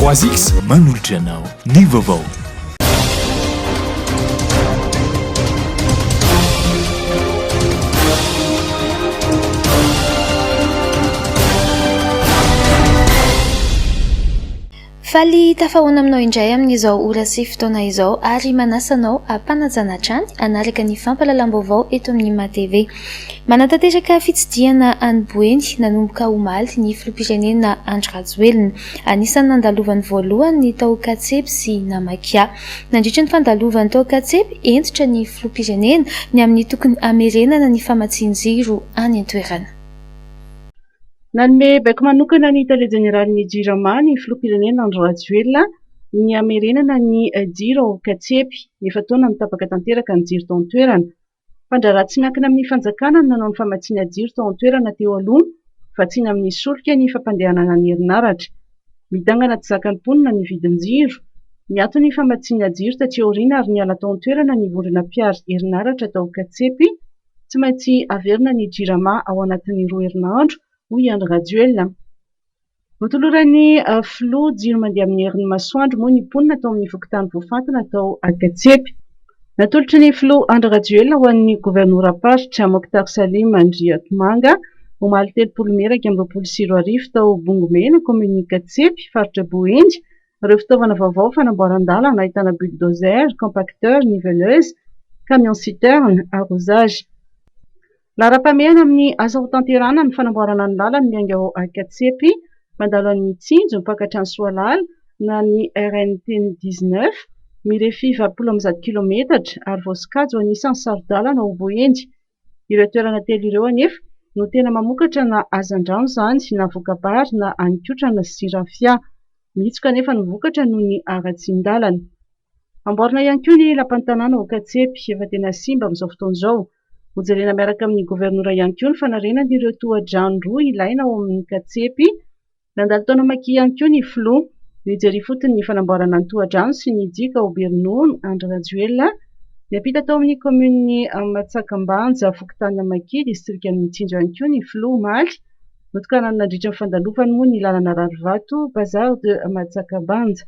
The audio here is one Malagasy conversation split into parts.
3X manolotra anao ny vaovao. Faly tafahoana aminao indray amin'izao ora sy fotoana izao ary manasa anao hampanajana hatrany hanaraka ny fampahalalam-baovao eto amin'ny Ima TV. Manatanteraka fitsidihana any Boeny nanomboka omaly ny filoham-pirenena Andry Rajoelina. Anisan'ny nandalovany voalohany ny tao Katsepy sy Namakia. Nandritra ny fandalovany tao Katsepy, hentitra ny filoham-pirenena ny amin'ny tokony hamerenana ny famatsian-jiro any an-toerana. Nanome baiko manokana ny tale jeneralin'ny Jirama ny filoham-pirenena Andry Rajoelina ny hamerenana ny jiro ao Katsepy. Efa-taona no tapaka tanteraka ny jiro tao an-toerana. Mpandraharaha tsy miankina amin'ny fanjakana no nanao ny famatsiana jiro tao an-toerana teo aloha, vatsiana amin'ny solika ny fampandehanana ny herinaratra. Midangana tsy zakan'ny mponina ny vidin-jiro. Niato ny famatsiana jiro taty aoriana ary niala tao an-toerana ny vondrona mpiaro herinaratra tao Katsepy. Tsy maintsy averina ny Jirama ao anatin'ny roa herinandro, hoy i Andry Rajoelina. Notoloran'ny filoha jiro mandeha amin'ny herin'ny masoandro moa ny mponina tao amin'ny fokontany voafantina tao Ankatsempi. Natolotry ny filoha Andry Rajoelina ho an'ny governoram-paritra Mokhtar Salim Andriatomanga omaly telopolo mey iraika amby roapolo sy roa arivo tao Bongomena, kaominin'i Ankatsempi, faritra Boeny, ireo fitaovana vaovao fanamboaran-dalana ahitana bulldozer, compacteur, niveleuse, camion citerne, arrosage. Laharam-pahamehana amin'ny asa hotanterahana ny fanamboarana ny lalana miainga ao Ankatsepy mandalo an'i Mitsinjo mpaka hatrany Soalala na ny RNT dix-neuf mirefy valopolo amby zato kilometatra ary voasokajy ho anisan'ny saro-dalana ao Boeny. Ireo toerana telo ireo anefa no tena mamokatra na hazandrano izany na voka-bary na haninkotrana sy rafia. Mihitsoka anefa ny vokatra noho ny haratsian-dalana. Amboarina ihany koa ny lapan'ny tanàna ao Ankatsepy efa tena simba amin'izao fotoana izao. Hojerena miaraka amin'ny governora ihany koa ny fanarenan'ireo tohadrano roa ilaina ao amin'ny Katsepy. Nandalo tao Namakia ihany koa ny filoha. Nijery ifotony ny fanamboarana ny tohadrano sy ny diaka ao Bernono Andry Rajoelina. Niampita tao amin'ny kaominin'i Matsakambanja, fokontany Namakia, distrikan'i Mitsinjo ihany koa ny filoha omaly. Notokanany nandritra ny fandalofany moa ny lalana rarivato Bazar de Matsakambanja.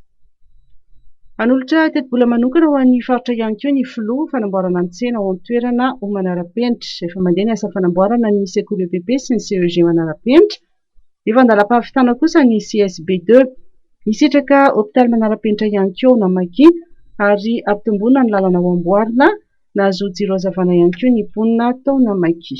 Hanolotra tetibola manokana ho an'ny faritra ihany koa ny filoha, fanamboarana ny tsena ao an-toerana ho manara-penitra. Efa mandeha ny asa fanamboarana ny sekoly EPP sy ny CEG manara-penitra. Efa an-dalam-pahavitana kosa ny CSB deux. Hisitraka hopitaly manara-penitra ihany koa ao Namaki ary hampitomboana ny lalana ho amboarina. Nahazoa jiro hazavana ihany koa ny mponina tao Namaki.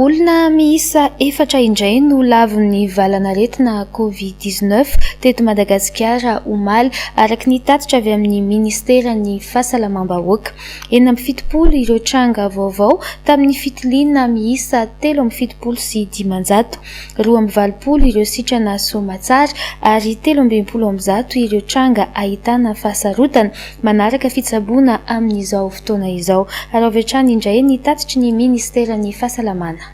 Olona miisa efatra indray no lavon'ny valanaretina Covid dix neuf teto Madagasikara omaly, araka ny tatitra avy amin'ny ministeran'ny Fahasalamam-bahoaka. Enina amby fitopolo ireo tranga vaovao tamin'ny fitiliana miisa telo amby fitopolo sy dimanjato. Roa amby valopolo ireo sitrana soamatsara ary telo amby enimpolo amby zato ireo tranga ahitana fahasarotana manaraka fitsaboana amin'izao fotoana izao. Araovy hatrany indray ny tatitry ny Ministeran'ny Fahasalamana.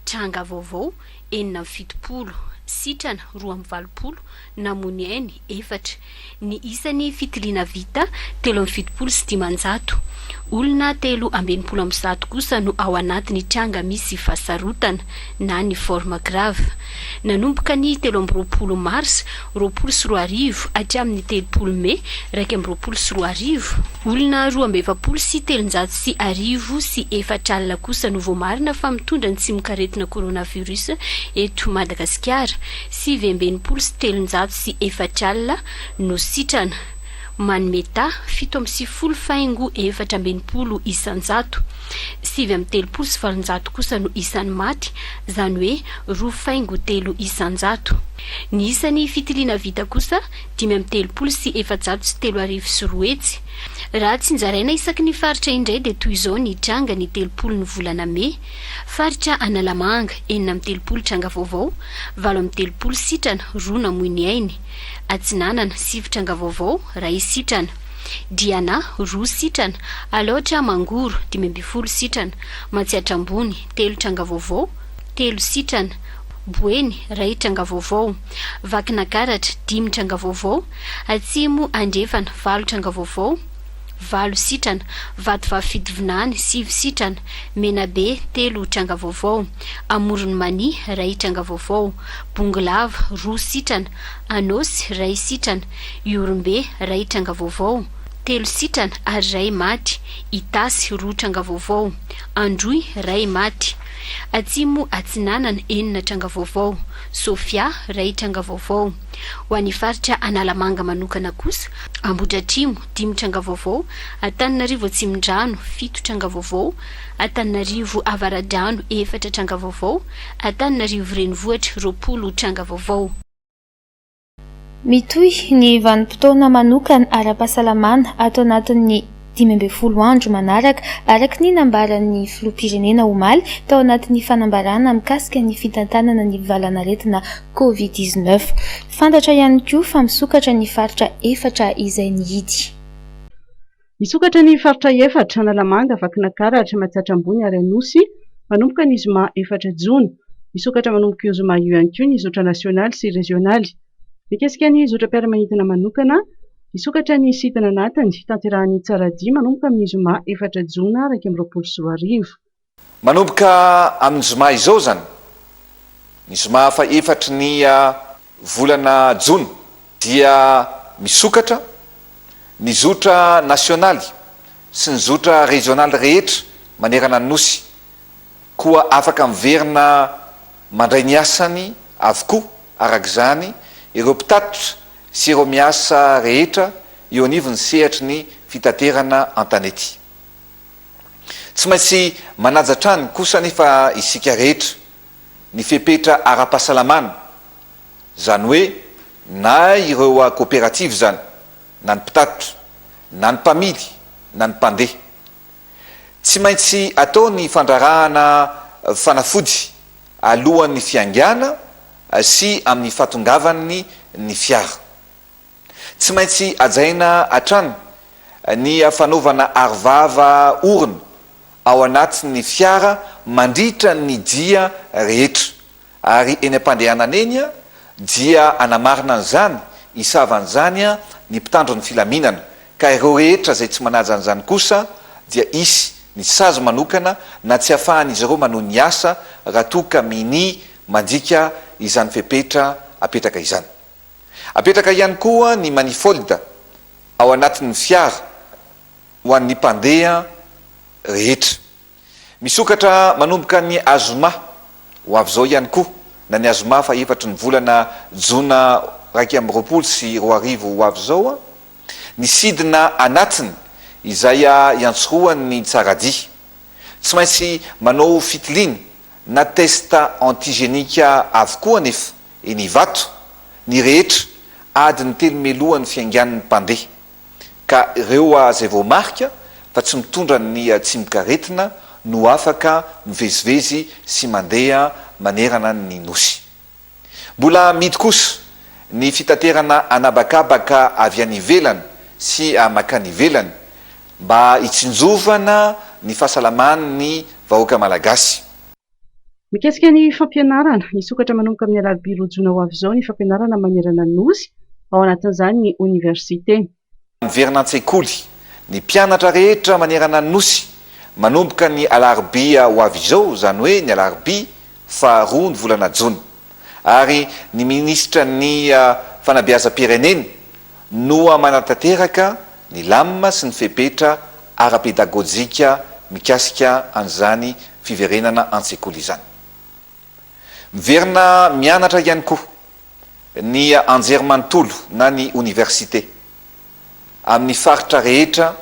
Tranga vaovao, enina amby fitopolo, sitrana roa amby valopolo, namoy ny ainy efatra. Ny isan'ny fitiliana vita, telo amby fitopolo sy dimanjato. Olona telo amby enimpolo amby zato kosa no ao anatin'ny tranga misy fahasarotana. na ny forme grave. Nanomboka ny telo amby roapolo mars roapolo sy roa arivo hatramin'ny telopolo mey iraika amby roapolo sy roa arivo, olona roa amby efapolo sy telonjato sy arivo sy efatra alina kosa no voamarina fa mitondra ny tsimokaretina coronavirus eto Madagasikara, sivy amby enimpolo sy telonjato sy efatra alina no sitrana, manome taha fito amby sivifolo faingo efatra amby enimpolo isan-jato. Sivy amby telopolo sy valonjato kosa no isan'ny maty, izany hoe roa faingo telo isan-jato. Ny isan'ny fitiliana vita kosa dimy amby telopolo sy efajato sy telo arivo sy roa hetsy. Raha tsinjaraina isaky ny faritra indray dia toy izao ny tranga ny telopolo ny volana mey, Faritra Analamanga, enina amby telopolo tranga vaovao, valo amby telopolo sitrana, roa namoy ny ainy. Atsinanana, sivy tranga vaovao, iray sitrana. Diana, roa sitrana, Alaotra, Mangoro, dimy ambin'ny folo sitrana, Matsiatra Ambony, telo tranga vaovao, telo sitrana, Boeny, iray tranga vaovao, Vakinakaratra, dimy tranga vaovao, Atsimo Andrefana, valo tranga vaovao, valo sitrana, Vatovavy Fitovinany, sivy sitrana, Menabe, telo tranga vaovao, Amoron'i Mania, iray tranga vaovao, Bongolava, roa sitrana, Anôsy, iray sitrana, Ihorombe, iray tranga vaovao, telo sitrana ary iray maty, Itasy, roa tranga vaovao, Androy, iray maty, Atsimo Atsinanana, enina tranga vaovao, Sofia, iray tranga vaovao, Ho an'ny faritra Analamanga manokana kosa, Ambohidratrimo, dimy tranga vaovao, Antananarivo Atsimondrano, fito tranga vaovao, Antananarivo Avaradrano, efatra tranga vaovao, Antananarivo Renivohitra, roapolo tranga vaovao. Mitohy ny vanim-potoana manokana ara-pahasalamana ato anatin'ny dimy ambin'ny folo andro manaraka, araka ny nambaran'ny filoham-pirenena omaly tao anatin'ny fanambarana mikasika ny fitantanana ny valan'aretina Covid dix-neuf. Fantatra ihany koa fa misokatra ny faritra efatra izay nihidy. Hisokatra ny faritra efatra, Analamanga, Vakinakaratra, Matsiatra Ambony ary Anosy, manomboka ny zoma efatra jona. Hisokatra manomboka io zoma io ihany koa ny zotra nasionaly sy rezionaly. Mikasika ny zotram-piaramanidina manokana, hisokatra ny site ananatiny, hitanterahan'ny Tsaradia manomboka amin'ny zoma efatra jona iraika amby roapolo sy roa arivo. Manomboka amin'ny zoma izao izany, ny zoma fahefatry ny volana jona, dia misokatra ny zotra nasionaly sy ny zotra rezionaly rehetra manerana ny Nosy, koa afaka miverina mandray ny asany avokoa araka izany ireo mpitatitra sy ireo miasa rehetra eo anivon'ny sehatry ny fitaterana an-tanety. Tsy maintsy manaja hatrany kosa anefa isika rehetra ny fepetra ara-pahasalamana, izany hoe na ireo koperativa izany, na ny mpitatitra, na ny mpamily, na ny mpandeha. Tsy maintsy atao ny fandrarahana fanafody alohan'ny fiangana sy amin'ny fahatongavan'ny ny fiara. Tsy maintsy hajaina hatrany ny fanaovana arovava orona ao anatin'ny fiara mandritra ny dia rehetra ary eny am-pandehanana eny dia hanamarina an'izany hisava an'izany ny mpitandro ny filaminana ka ireo rehetra izay tsy manaja an'izany kosa dia hisy ny sazy manokana na tsy hafahan'izy ireo manohy ny asa raha toa ka minia mandika izany fepetra apetraka izany. Apetraka ihany koa ny manifold ao anatin'ny fiara ho an'ny mpandeha rehetra. Misokatra manomboka ny azoma ho avy izao ihany koa na ny azoma fahefatry ny volana jona iraika amby roapolo sy roa arivo ho avy izao ny sidina anatiny izay iantsorohan'ny tsaradia. Tsy maintsy manao fitiliana na test antigenique avokoa anefa Eny Ivato, ny rehetra, adiny telo mialohan'ny fiaingan'ny mpandeha. Ka ireo izay voamarika fa tsy mitondra ny tsimokaretina no afaka mivezivezy sy mandeha manerana ny Nosy. Mbola amidy kosa ny fitaterana an'habakabaka avy any ivelany sy mankany ivelany mba hitsinjovana ny fahasalaman'ny vahoaka Malagasy. Mikasika ny fampianarana, hisokatra manomboka amin'ny alarobia roa jona ho avy izao ny fampianarana manerana ny Nosy, ao anatin'izany ny oniversite. Miverina an-tsekoly ny mpianatra rehetra manerana ny Nosy manomboka ny alarobia ho avy izao, izany hoe ny alarobia faha roa ny volana jona, ary ny minisitra ny fanabeazam-pirenena, Noa manatanteraka ny lamina sy ny fepetra ara-pedagojika mikasika an'izany fiverenana an-tsekoly izany. Miverina mianatra ihany koa ny anjerimanontolo na ny oniversite amin'ny faritra rehetra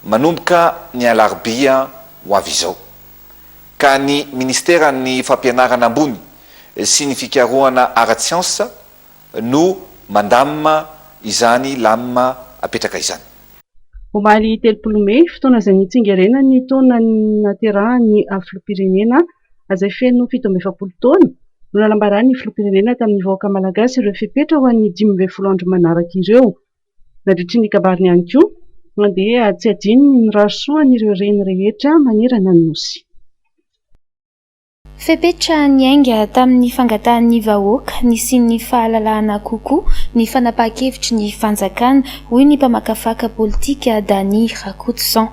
manomboka ny alarobia ho avy izao, ka ny Ministeran'ny Fampianarana ambony sy ny Fikarohana ara-tsiansa, no mandamina izany lamina apetraka izany. Omaly telopolo mey, fotoana izay nitsingerenany ny taona nahaterahan'ny filoham-pirenena izay feno fito amby efapolo taona, no nanambaran'ny filoham-pirenena tamin'ny vahoaka malagasy ireo fepetra ho an'ny dimy ambin'ny folo andro manaraka ireo. Nadritry ny kabariny ihany koa, dia tsy adino ny mirary soa an'ireo reny rehetra manerana ny Nosy. Fepetra niainga tamin'ny fangatahan'ny vahoaka nisian'ny fahalalahana kokoa ny fanapahan-kevitry ny fanjakana, hoy ny mpamakafaka politika Dany Rakotoson.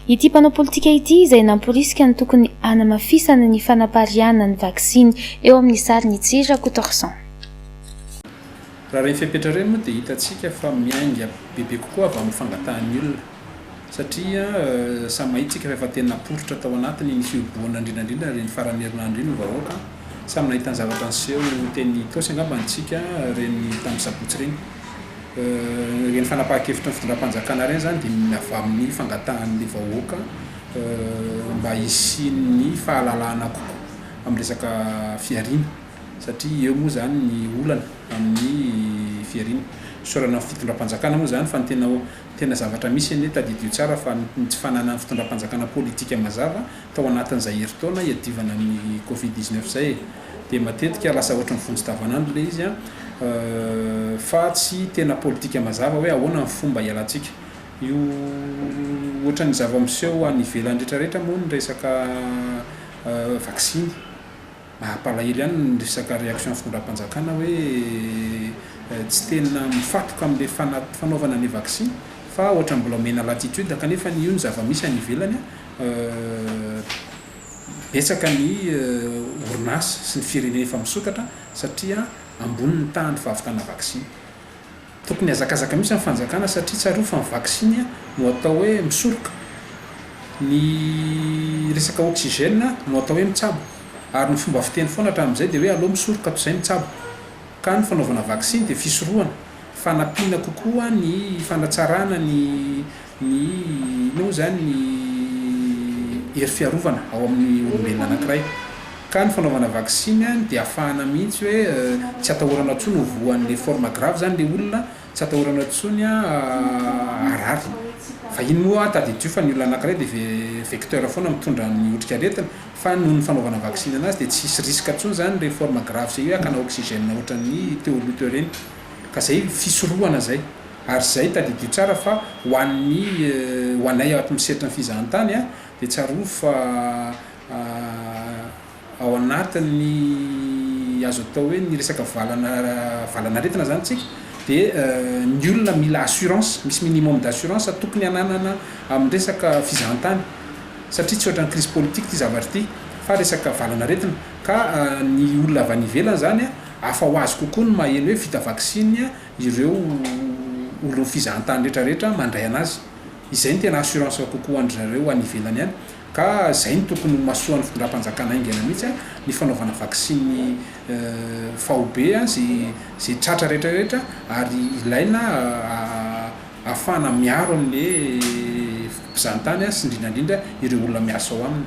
Ity mpanao politika ity izay namporisika ny tokony hanamafisana ny fanapariahana ny vaksiny. Eo amin'ny sariny itsy Rakotorson. Raha ireny fepetra ireny moa dia hitantsika fa miainga bebe kokoa avy amin'ny fangatahan'ny olona. satria samy mahitsika fa efa tena naporitra tao anatiny iny fihobohana indrindra indrindra ary iny faran'ny herinandro iny ny vahoaka, samy nahita ny zavatra niseho teny Itaosy angamba ny tsika ireny tamin'ny sabotsy ireny, ireny fanapahan-kevitry ny fitondram-panjakana ireny izany dia avy amin'ny fangatahan'ny vahoaka mba hisian'ny fahalalahana kokoa amin'ny resaka fihariana satria eo moa izany ny olana amin'ny fihariana, fisaorana ny fitondram-panjakana moa izany fa ny tena. Tena zavatra misy anie, tadidio tsara fa ny tsy fananan'ny fitondram-panjakana politika mazava tao anatin'izay herintaona hiadivana ny covid dix-neuf izay e! Dia matetika lasa ohatry ny vonjy tavanandro ilay izy an! fa tsy tena politika mazava hoe ahoana ny fomba hialantsika io ohatry ny zava-miseho any ivelany retraretra moa ny resaka vaksiny. Mampalahelo ihany ny resaka réaction fitondram-panjakana hoe tsy tena mifatoka amin'ilay fanaovana ilay vaksiny fa ohatra mbola omena latitude kanefa io ny zava-misy any ivelany betsaka ny orinasa sy ny firenena efa misokatra satria ambony ny tahan'ny fahavitana vaksiny. Tokony hazakazaka mihitsy ny fanjakana satria tsarovy fa ny vaksiny no atao hoe misoroka, ny resaka oxygène no atao hoe mitsabo ary ny fomba fiteny foana hatramin'izay dia hoe aleo misoroka toy izay mitsabo. Ka ny fanaovana vaksiny dia fisorohana, fanampiana kokoa ny fanatsarana ny Ny inona moa izany ny hery fiarovana ao amin'ny olombelona anankiray. Ka ny fanaovana vaksiny dia afahana mihitsy hoe tsy atahorana intsony ho voan'ny forme grave izany ilay olona, tsy atahorana intsony harary. Fa iny moa tadidio fa ny olona anankiray dia vecteur foana mitondra ny otrikaretina, fa noho ny fanaovana vaksiny anazy dia tsy hisy risque intsony izany ilay forme grave izay hoe hakana oxygène ohatran'ny teo aloha teo ireny. Ka izay fisorohana izay. Ary izay, tadidio tsara fa ho an'ny, ho anay ao atmin'ny sehatry ny fizahantany, dia tsarovy fa ao anatin'ny azo atao hoe ny resaka valana, valan'aretina izany isika dia ny olona mila assurance, misy minimum d'assurance tokony hananana amin'ny resaka fizahantany satria tsy ohatran'ny crise politique ity zavatra ity fa resaka valan'aretina ka ny olona avy any ivelany izany hafa ho azy kokoa ny maheno hoe vita vaksiny ireo olon'ny fizahantany rehetra rehetra mandray anazy. Izay no tena assurance kokoa an-dry zareo any ivelany any. Ka izay no tokony ho masoan'ny fitondram-panjakana haingana mihitsy an, ny fanaovana vaksiny faobe an, ze ze tratra rehetra rehetra ary ilaina ahafahana miaro an'le mpizahantany sy indrindra indrindra ireo olona miasa ao aminy.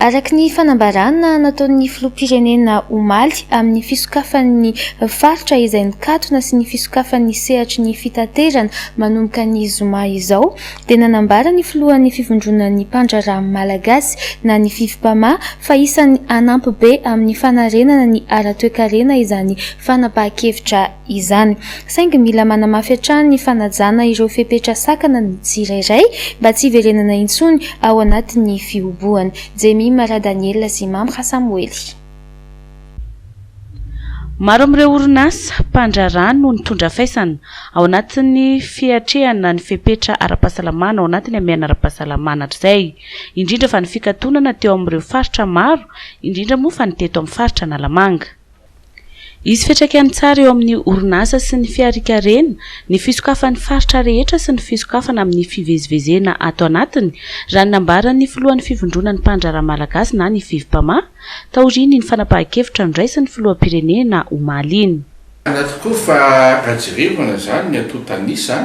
Araka ny fanambarana nataon'ny filoham-pirenena omaly amin'ny fisokafan'ny faritra izay nikatona sy ny fisokafan'ny sehatry ny fitaterana manomboka ny zoma izao dia nanambara ny filohan'ny fivondronan'ny mpandraharaha malagasy na ny Fifpama fa isan'ny hanampy be amin'ny fanarenana ny ara-toekarena izany fanapahan-kevitra izany. Saingy mila manamafy hatrany ny fanajana ireo fepetra sakana ny tsirairay mba tsy hiverenana intsony ao anatin'ny fihobohana. Jemima Radaniela sy Mamra Samoely. Maro amin'ireo orinasa mpandraharaha no nitondra faisana ao anatin'ny fiatrehana ny fepetra ara-pahasalamana ao anatin'ny hamehana ara-pahasalamana hatrizay, indrindra fa ny fikatonana teo amin'ireo faritra maro indrindra moa fa ny teto amin'ny faritra Analamanga. Hisy fiantraikany tsara eo amin'ny orinasa sy ny fiharikarena ny fisokafan'ny faritra rehetra sy ny fisokafana amin'ny fivezivezena ato anatiny, raha ny nambaran'ny filohan'ny Fivondronan'ny Mpandraharaha Malagasy na ny Fivpama, taorian'iny fanapahan-kevitra noraisin'ny filoham-pirenena omaly iny. Marina tokoa fa raha jerevana izany ny antontan'isa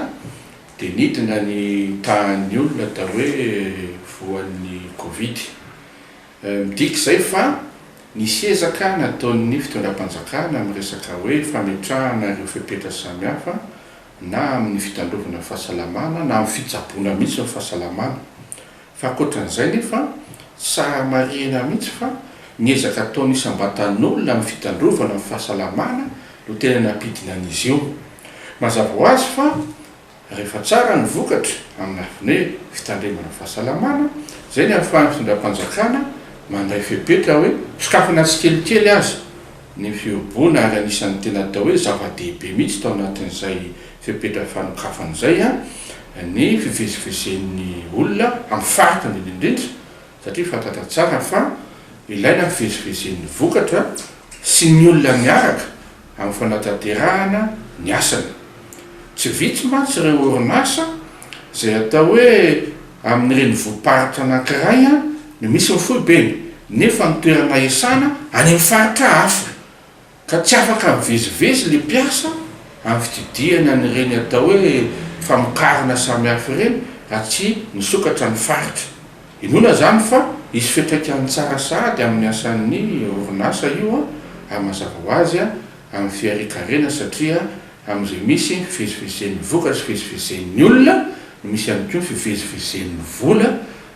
dia nidina ny tahan'ny olona atao hoe voan'ny covid. Midika izay fa nisy ezaka nataon'ny fitondram-panjakana amin'ny resaka hoe fametrahana ireo fepetra samihafa na amin'ny fitandrovana fahasalamana na amin'ny fitsaboana mihitsy ny fahasalamana. Fa ankoatran'izay nefa tsara marihina mihitsy fa ny ezaka ataon'ny isam-batan'olona amin'ny fitandrovana ny fahasalamana no tena nampidina an'izy io. Mazava ho azy fa. Rehefa tsara ny vokatra amin'ny lafiny hoe fitandremana fahasalamana, izay ny ahafahan'ny fitondram-panjakana mandray fepetra hoe sokafana tsikelikely aza ny fihoboana ary anisan'ny tena atao hoe zava-dehibe mihitsy tao anatin'izay fepetra fanokafana izay ny fivezivezen'ny olona amin'ny faritra ambony indrindra satria fantatra tsara fa ilaina ny fivezivezen'ny vokatra sy ny olona miaraka amin'ny fanatanterahana ny asany. Tsy vitsy mantsy ireo orinasa izay atao hoe amin'ny renivohi-paritra anankiray no misy ny foibeny nefa ny toerana iasana any amin'ny faritra hafa ka tsy afaka mivezivezy ilay mpiasa amin'ny fitsidihana an'ireny atao hoe famokarana samihafa ireny raha tsy misokatra ny faritra. Inoana izany fa hisy fiantraikany tsara sahady amin'ny asan'ny orinasa io, ary mazava ho azy, amin'ny fiharian-karena satria amin'izay misy ny fivezivezen'ny vokatra sy fivezivezen'ny olona no misy ihany koa ny fivezivezen'ny vola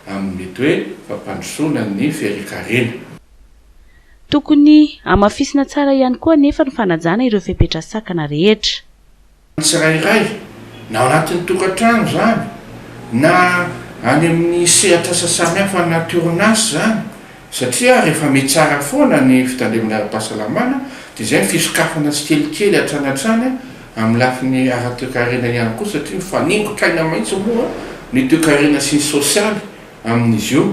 amin'ny mety hoe fampandrosoana ny fiharian-karena. Tokony hamafisina tsara ihany koa anefa ny fanajana ireo fepetra sakana rehetra. ny tsirairay, na ao anatin'ny tokantrano izany, na any amin'ny sehatr'asa samihafa anaty orinasa izany, satria rehefa mitsara foana ny fitandremana ara-pahasalamana dia izay ny fisokafana tsikelikely hatrany hatrany amin'ny lafiny ara-toekarena ihany koa satria mifaningon-kaina maitso moa ny toekarena sy ny sosialy amin'izy io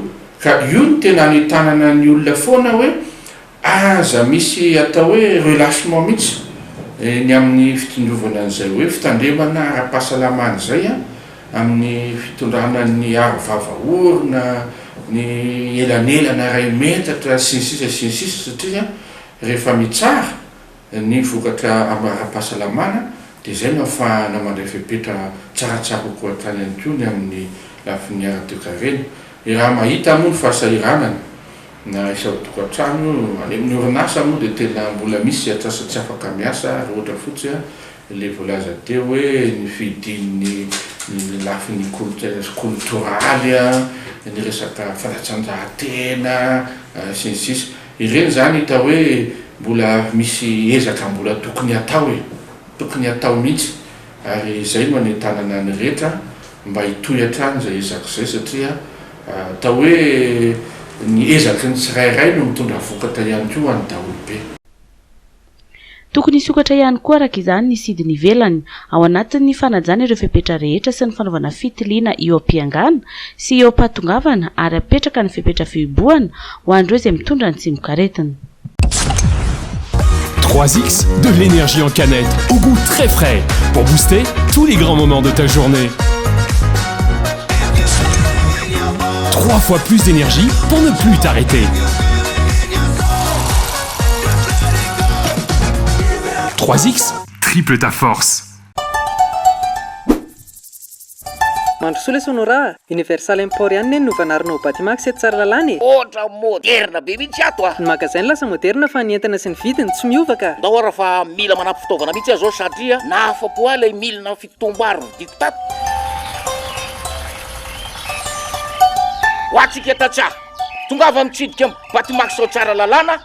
ka io no tena anentanana ny olona foana hoe Aza misy atao hoe relâchement mihitsy ny amin'ny fitondrovana an'izay hoe fitandremana ara-pahasalamana izay amin'ny fitondrana ny aro vava orona, ny elanelana iray metatra sy ny sisa sy ny sisa satria rehefa mitsara. Ny vokatra amin'ny ara-pahasalamana dia izay no ahafahana mandray fepetra tsaratsara kokoa hatrany ihany koa ny amin'ny lafiny ara-toekarena. Ny raha mahita moa ny fahasahiranana na isa ao tokantrano io, any amin'ny orinasa moa dia tena mbola misy atrasa tsy afaka miasa ary ohatra fotsy ilay voalaza teo hoe ny fihidian'ny ny lafiny kolontsaina sy koltoraly, ny resaka fanatsanjahantena sy ny sisa. Ireny izany hita hoe mbola misy ezaka mbola tokony hatao e! Tokony hatao mihitsy ary izay no anentanana ny rehetra mba hitohy hatrany izay ezaka izay satria atao hoe ny ezaky ny tsirairay no mitondra vokatra ihany koa ho an'ny daholobe. Tokony hisokatra ihany koa araka izany ny sidiny ivelany, ao anatin'ny fanajana ireo fepetra rehetra sy ny fanaovana fitiliana eo am-piangana sy eo am-pahatongavana ary hapetraka ny fepetra fihibohana ho an'ireo izay mitondra ny tsimokaretina. Trois X, de l'énergie en canette au goût très frais pour booster tous les grands moments de ta journée. Trois fois plus d'énergie pour ne plus t'arrêter. Trois X triple ta force. Mandrosoa lesy Honora a! Universal Import ihany ne no vanarina ho Batimax eto Tsaralalàna e! Ohatra moderna be mihitsy ato a! Ny magasin lasa moderna fa ny entana sy ny vidiny tsy miova ka! Ndao ara fa mila manampy fitaovana mihitsy aho zao satria nahafapo ahy ilay milina fitotom-bary vidiko tato. Ho antsika tantsaha. Tongava mitsidika ny batimax ao Tsaralalàna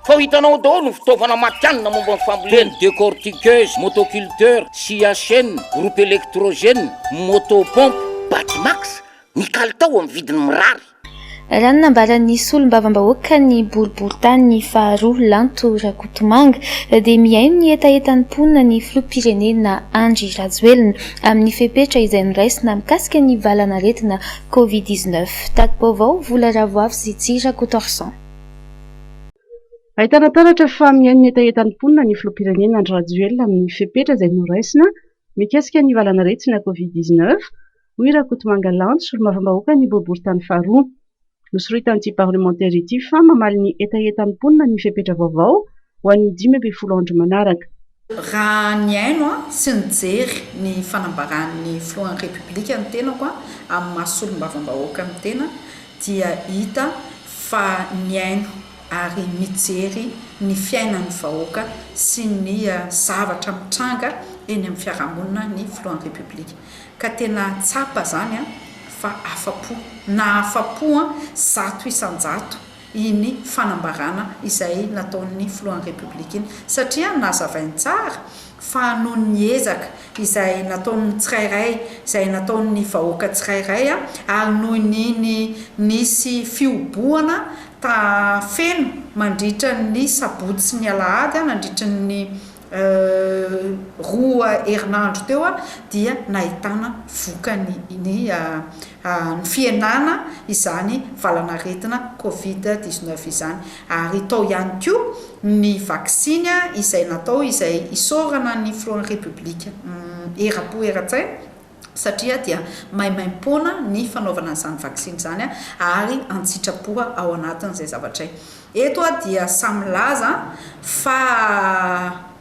fa ho hitanao ao daholo ny fitaovana matihanina momba ny fambolena, toy ny décortiqueuse, motoculteur, scia chaine, groupe électrogène, moto pompe. Batimax, ny kalitao amin'ny vidiny mirary. Raha ny nambaran'ny solombavambahoaka ny boriborintany faharoa Lanto Rakotomanga dia mihaino ny hetahetan'ny mponina ny filoham-pirenena Andry Rajoelina amin'ny fepetra izay noraisina mikasika ny valanaretina Covid dix neuf, tati-baovao, vola ravoavy sy tsy rakotorson. Ahitana taratra fa mihaino ny hetahetan'ny mponina ny filoham-pirenena Andry Rajoelina amin'ny fepetra izay noraisina mikasika ny valanaretina Covid dix neuf, hoy Rakotomanga Lanto, solombavambahoakan'ny boriboritany faharoa. Nosoritan'ity parlemantera ity fa mamaly ny hetahetan'ny mponina ny fepetra vaovao ho an'ny dimy ambin'ny folo andro manaraka. Raha nihaino sy nijery ny fanambaran'ny filohan'ny Repoblika ny tenako amin'ny maha solombavambahoaka ny tena dia hita fa nihaino ary nijery ny fiainan'ny vahoaka sy ny zavatra mitranga eny amin'ny fiarahamonina ny filohan'ny Repoblika ka tena tsapa izany fa afa-po, na afa-po zato isan-jato iny fanambarana izay nataon'ny filohan'ny Repoblika iny satria nazavainy tsara fa noho ny ezaka izay nataon'ny tsirairay, izay nataon'ny vahoaka tsirairay ary noho ny ny nisy fihobohana ta feno mandritra ny sabotsy sy ny alahady nandritry ny roa herinandro teo dia nahitana vokany ny ny fihenana izany valanaretina covid dix neuf izany ary tao ihany koa ny vaksiny izay natao izay isaorana ny filohan'ny Repoblika eram-po eran-tsaina satria dia maimaim-poana ny fanaovana an'izany vaksiny izany ary an-tsitrapo ao anatin'izay zavatray. Eto aho dia sahy milaza fa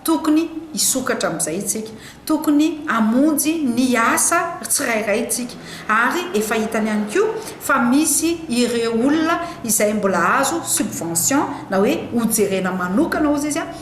tokony hisokatra amin'izay isika, tokony hamonjy ny asa tsirairay isika ary efa hitany ihany koa fa misy ireo olona izay mbola azo subvention na hoe hojerena manokana hozy izy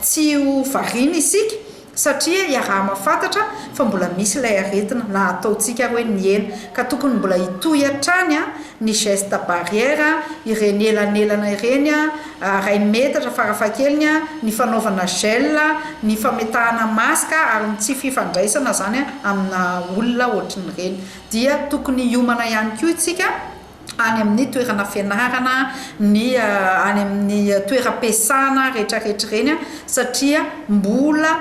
Tsy ho variana isika satria iaraha-mahafantatra fa mbola misy ilay aretina na ataontsika ary hoe nihena ka tokony mbola hitohy hatrany ny geste barrière, ireny elanelana ireny, iray metatra farafahakeliny, ny fanaovana gel, ny fametahana masque ary ny tsy fifandraisana izany amina olona ohatran'ireny. Dia tokony hiomana ihany koa isika. any amin'ny toerana fianarana, ny any amin'ny toeram-piasana rehetrarehetra ireny satria mbola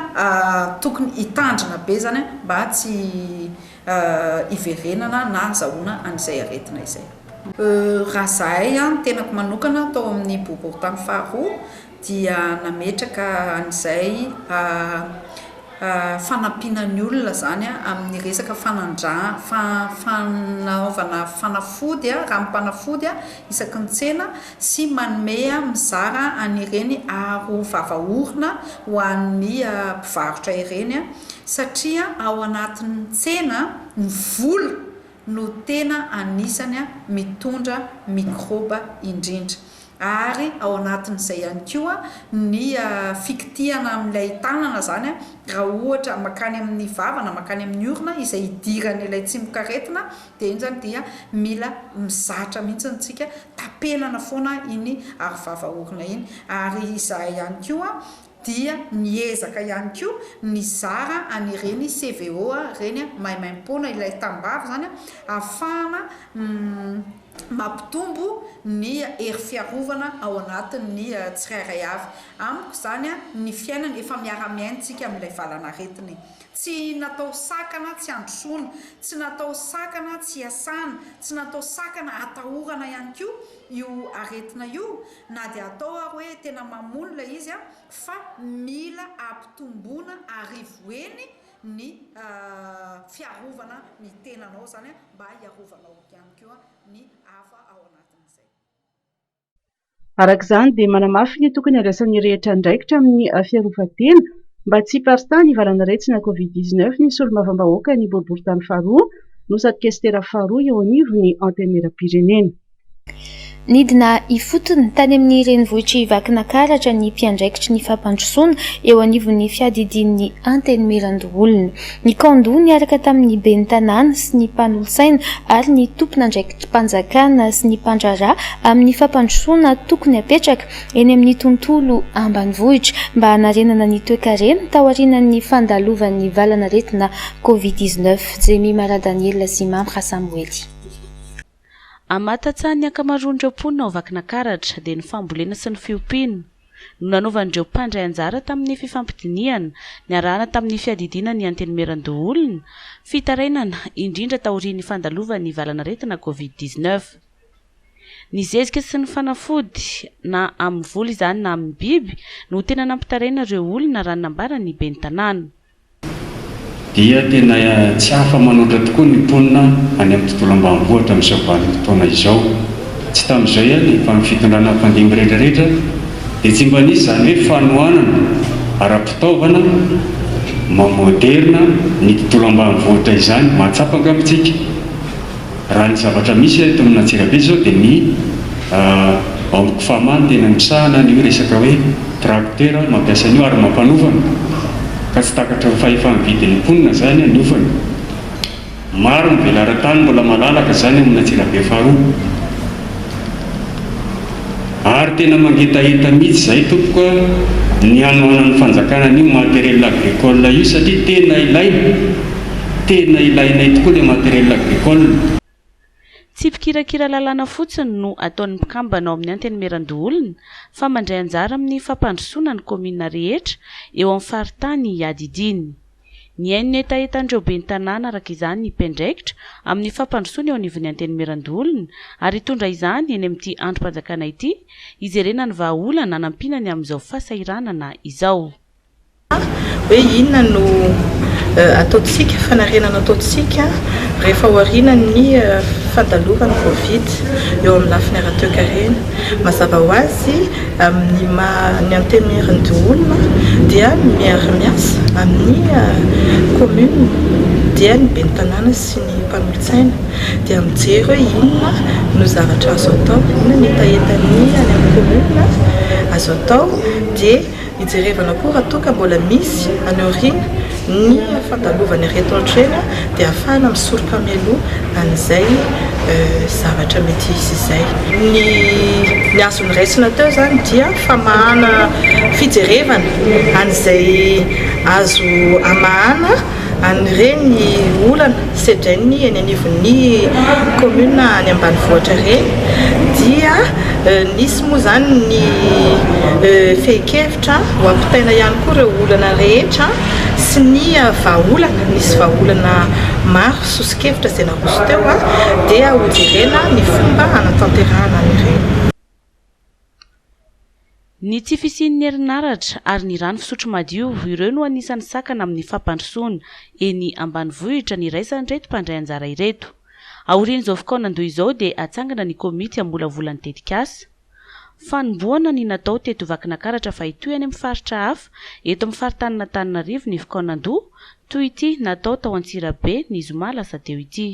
tokony hitandrina be izany mba tsy hiverenana na hazahoana an'izay aretina izay. Raha izahay, ny tenako manokana tao amin'ny boriborintany faharoa, dia nametraka an'izay fanampiana ny olona izany amin'ny resaka fanaovana fanafody, ranom-panafody isaky ny tsena sy manome mizara an'ireny aro vava orona ho an'ny mpivarotra ireny satria ao anatin'ny tsena ny vola no tena anisany mitondra mikraoba indrindra. ary ao anatin'izay ihany koa ny fikitihana amin'ilay tanana izany raha ohatra makany amin'ny vava na makany amin'ny orona izay idiran'ilay tsimokaretina dia iny izany dia mila mizatra mihitsy isika tapenana foana iny arovava orona iny ary izahay ihany koa dia miezaka ihany koa nizara an'ireny CVO ireny maimaimpoana ilay tambavy izany ahafahana mampitombo ny hery fiarovana ao anatin'ny tsirairay avy. Amiko izany ny fiainana efa miara-miaintsika amin'ilay valan'aretina e! Tsy natao sakana tsy androsoana, tsy natao sakana tsy hiasana, tsy natao sakana atahorana ihany koa io aretina io na dia atao ary hoe tena mamono ilay izy fa mila ampitomboina arivo heny ny fiarovana ny tenanao izany mba hiarovanao ihany koa ny hafa ao anatin'izay. Araka izany dia manamafy ny tokony handraisan'ny rehetra andraikitra amin'ny fiarovan-tena mba tsy hiparitahan'ny valan'aretina covid dix neuf ny solombavambahoaka ny boriborintany faharoa no sady kesitera faharoa eo anivon'ny Antenimierampirenena. Nidina ifotony tany amin'ny renivohitr'i Vakinakaratra ny mpiandraikitry ny fampandrosoana eo anivon'ny fiadidian'ny Antenimierandoholona. Ny kaon-doha niaraka tamin'ny ben'ny tanàna sy ny mpanolotsaina ary ny tompon'andraikitrim-panjakana sy ny mpandraharaha amin'ny fampandrosoana tokony hapetraka eny amin'ny tontolo ambanivohitra mba hanarenana ny toekarena taorianan'ny fandalovan'ny valan'aretina Covid dix-neuf. Jemima Radaniela sy Mamra Samoely. Amin'ny maha tantsaha ny ankamaroan'ireo mponina ao Vakinakaratra dia ny fambolena sy ny fiompiana no nanaovan'ireo mpandray anjara tamin'ny fifampidinihana niarahana tamin'ny fiadidiana ny Antenimierandoholona, fitarainana indrindra taorian'ny fandalovan'ny valan'aretina Covid dix-neuf. Ny zezika sy ny fanafody na amin'ny voly izany na amin'ny biby no tena nampitaraina ireo olona raha ny nambaran'ny ben'ny tanàna. dia tena tsy afa-manoatra tokoa ny mponina any amin'ny tontolo ambanivohitra amin'izao vanim-potoana izao. Tsy tamin'izay ihany fa ny fitondrana mpandimby rehetrarehetra dia tsy mba nisy izany hoe fanohanana ara-pitaovana maha-moderina ny tontolo ambanivohitra izany. Mahatsapa angamba isika? Raha ny zavatra misy eto amina Antsirabe izao dia ny Amiko Fama no tena misahana an'io resaka hoe tracteur mampiasa an'io ary mampanofana ka tsy takatry ny fahefany vidin'ny mponina izany ny ofany. Maro ny velaran-tany mbola malalaka izany ao amina Antsirabe faharoa ary tena mangetaheta mihitsy izay tompoko a, ny hanohanan'ny fanjakana an'io matériel agricole io satria tena ilaina. Tena ilainay tokoa le matériel agricole. Tsy mpikirakira lalàna fotsiny no ataon'ny mpikambana ao amin'ny Antenimierandoholona fa mandray anjara amin'ny fampandrosoana ny kaominina rehetra eo amin'ny faritany iadidiany. Nihaino ny hetahetan'ireo ben'ny tanàna araka izany ny mpiandraikitra amin'ny fampandrosoana eo anivon'ny Antenimierandoholona ary hitondra izany eny amin'ity andrim-panjakana ity hijerena ny vahaolana anampiana ny amin'izao fahasahiranana izao. hoe inona no ataontsika, fanarenana ataontsika rehefa aorianan'ny fandalovan'ny Covid eo amin'ny lafiny ara-toekarena. Mazava ho azy, amin'ny maha ny Antenimierandoholona dia miara-miasa amin'ny kaominina dia ny ben'ny tanàna sy ny mpanolotsaina dia mijery hoe inona no zavatra azo atao, inona no hetahetan'ny any amin'ny kaominina azo atao dia. Hijerevana koa raha toa ka mbola misy any aoriana ny fandalovany ireto antrena dia ahafahana misoroka mialoha an'izay zavatra mety hisy izay. Ny ny azo noraisina teo izany dia famahana fijerevana an'izay azo amahana. an'ireny olana sedrainy eny anivon'ny commune any ambanivohitra ireny dia nisy moa izany ny fehin-kevitra ho ampitaina ihany koa ireo olana rehetra sy ny vahaolana, nisy vahaolana maro soso-kevitra izay naroso teo dia hojerena ny fomba hanatanterahana an'ireny. Ny tsy fisian'ny herinaratra ary ny rano fisotro madio, ireo no anisan'ny sakana amin'ny fampandrosoana eny ambanivohitra niraisan'ireto mpandray anjara ireto. Aorian'izao fikaonandoha izao dia hatsangana ny komity hamolavola ny tetikasa. Fanombohana ny natao teto Vakinakaratra fa hitohy any amin'ny faritra hafa eto amin'ny faritanin'Antananarivo ny fikaonandoha toy ity natao tao Antsirabe ny zoma lasa teo ity.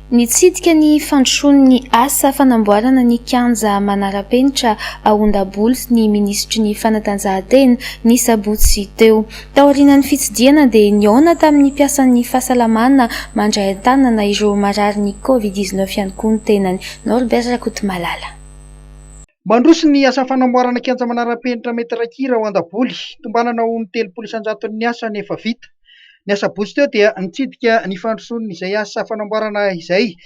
Nitsidika ny fandrosoan'ny asa fanamboarana ny kianja manara-penitra ao Ondabolo ny minisitry ny Fanatanjahantena, ny sabotsy teo. Taorianan'ny fitsidihana dia nihaona tamin'ny mpiasan'ny fahasalamana mandray an-tanana ireo mararin'ny Covid dix-neuf ihany koa ny tenany. Norbert Rakotomalala. Mandroso ny asa fanamboarana kianja manara-penitra metatra kira ao Andaboly. Tombanana ho ny telopolo isan-jaton'ny asa ny efa vita. Ny asabotsy teo dia nitsidika ny fandrosoan'izay asa fanamboarana izay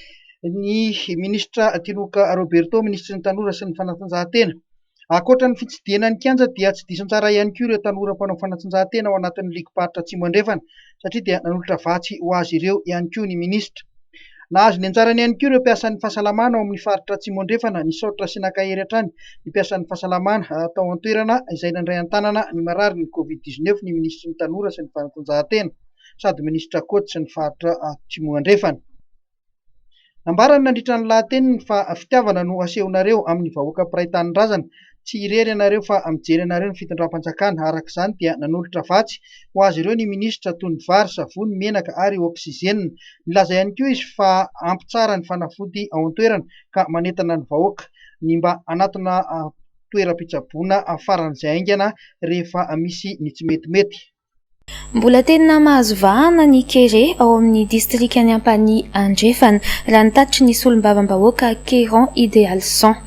ny minisitra Tinoka Roberto, minisitry ny Tanora sy ny fanatanjahantena. Ankoatra ny fitsidihana ny kianja dia tsy diso anjara ihany koa ireo tanora mpanao fanatanjahantena ao anatin'ny ligim-paritra Atsimo Andrefana. satria dia nanolotra vatsy ho azy ireo ihany koa ny minisitra. Nahazo ny anjarany ihany koa ireo mpiasan'ny fahasalamana ao amin'ny faritra Atsimo Andrefana nisaotra sy naka hery hatrany ny mpiasan'ny fahasalamana tao an-toerana izay nandray an-tanana ny marary ny Covid dix neuf ny minisitry ny Tanora sy ny fanatanjahantena sady minisitra coach ny faritra Atsimo Andrefana. Nambarany nandritra ny lahateniny fa fitiavana no asehonareo amin'ny vahoaka mpiray tanindrazana, tsy irery ianareo fa mijery anareo ny fitondram-panjakana, araka izany dia nanolotra vatsy ho azy ireo ny minisitra toy ny vary, savony, menaka ary oksizenina. Nilaza ihany koa izy fa ampy tsara ny fanafody ao an-toerana ka manentana ny vahoaka ny mba hanatona toeram-pitsaboana faran'izay haingana rehefa misy ny tsimetimety. Mbola tena mahazo vahana ny kere ao amin'ny distrikan'i Ampanihy Andrefana, raha ny tatitry ny solombavambahoaka Keran Idealison.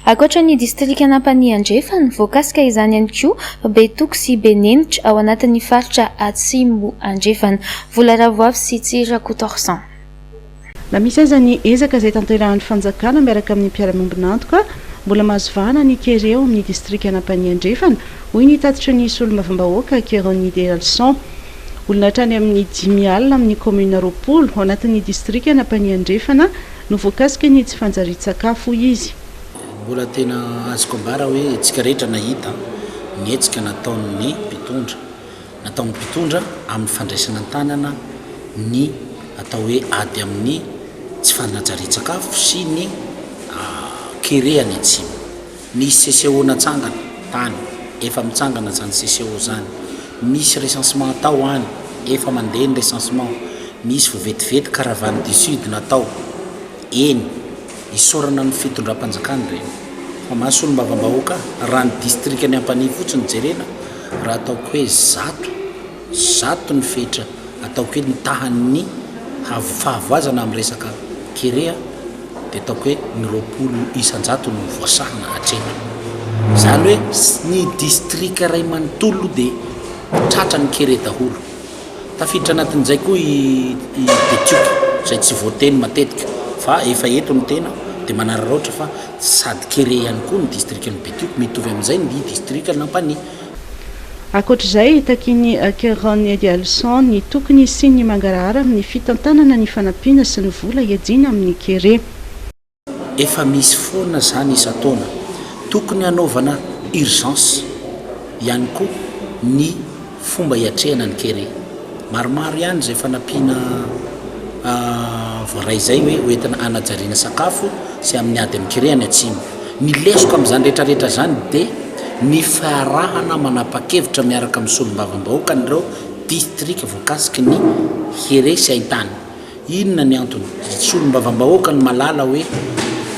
Ankoatra ny distrikan'Ampanihy Andrefana, voakasika izany ihany koa Betoko sy Benenitra ao anatin'ny faritra Atsimo Andrefana, Volaravoavy sy Tsirakotorsan. Na misy aza ny ezaka izay tanterahin'ny fanjakana miaraka amin'ny mpiara-miombon'antoka, mbola mahazo vahana ny kere ao amin'ny distrikan'Ampanihy Andrefana, hoy ny tatitry ny solombavambahoaka Keronny Deralison. Olona hatrany amin'ny dimy alina amin'ny kaominina roapolo ao anatin'ny distrikan'Ampanihy Andrefana no voakasika ny tsy fanjarian-tsakafo, hoy izy. Mbola tena azoko ambara hoe isika rehetra nahita ny hetsika nataon'ny mpitondra nataon'ny mpitondra amin'ny fandraisana an-tanana ny atao hoe ady amin'ny tsy fanajarian-tsakafo sy ny kere any Atsimo. Nisy CCO natsangana tany, efa mitsangana izany CCO izany. Misy recensement atao any, efa mandeha ny recensement. Misy vetivety caravane du sud natao eny. Isaorana amin'ny fitondram-panjakana ireny fa maha solombavambahoaka ahy raha ny distrikan'i Ampanihy fotsiny jerena raha ataoko hoe zato, zato ny fetra ataoko hoe ny tahan'ny fahavoazana amin'ny resaka kere dia ataoko hoe ny roapolo isan-jato no voasahana hatreny. Izany hoe ny distrika iray manontolo dia tratra ny kere daholo. Tafiditra anatin'izay koa i Betioky izay tsy voateny matetika fa efa eto ny tena dia manararaotra fa sady kere ihany koa ny distrikan'i Betioky, mitovy amin'izay ny distrikan'i Ampanihy. Ankoatra izay, takian'i Keron Edialison ny tokony hisian'ny mangarahara amin'ny fitantanana ny fanampiana sy ny vola iadiana amin'ny kere. Efa misy foana izany isan-taona. Tokony hanaovana urgence ihany koa ny fomba hiatrehana ny kere. Maromaro ihany izay efa nampiana voaray izay hoe ho entina hanajariana sakafo sy amin'ny ady amin'ny kere any atsimo. Ny lesoka amin'izany rehetrarehetra izany dia ny fiarahana manapa-kevitra miaraka amin'ny solombavambahoakan'ireo distrika voakasiky ny kere sy haintany. Inona ny antony? Solombavambahoaka no mahalala hoe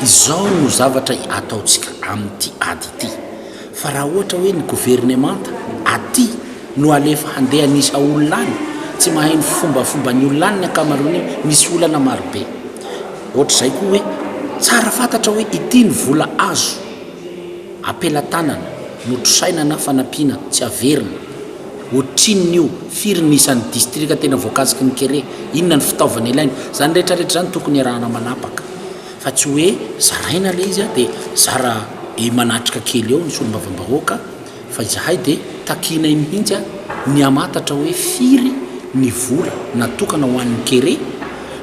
izao no zavatra ataontsika amin'ity ady ity. Fa raha ohatra hoe ny governemanta aty no alefa handeha hanisa olona any, tsy mahay ny fombafomban'ny olona any ny ankamaroany, misy olana marobe. Ohatr'izay koa hoe tsara fantatra hoe ity ny vola azo apelatanana, notrosaina na fanampiana tsy averina. Ohatrinon'io? Firy ny isan'ny distrika tena voakasiky ny kere? Inona ny fitaovana ilaina? Izany rehetrarehetra izany tokony iarahana manapaka fa tsy hoe zaraina ilay izy dia zara be manatrika kely eo ny solombavambahoaka fa izahay dia takianay mihitsy ny hamantatra hoe firy ny vola natokana ho an'ny kere,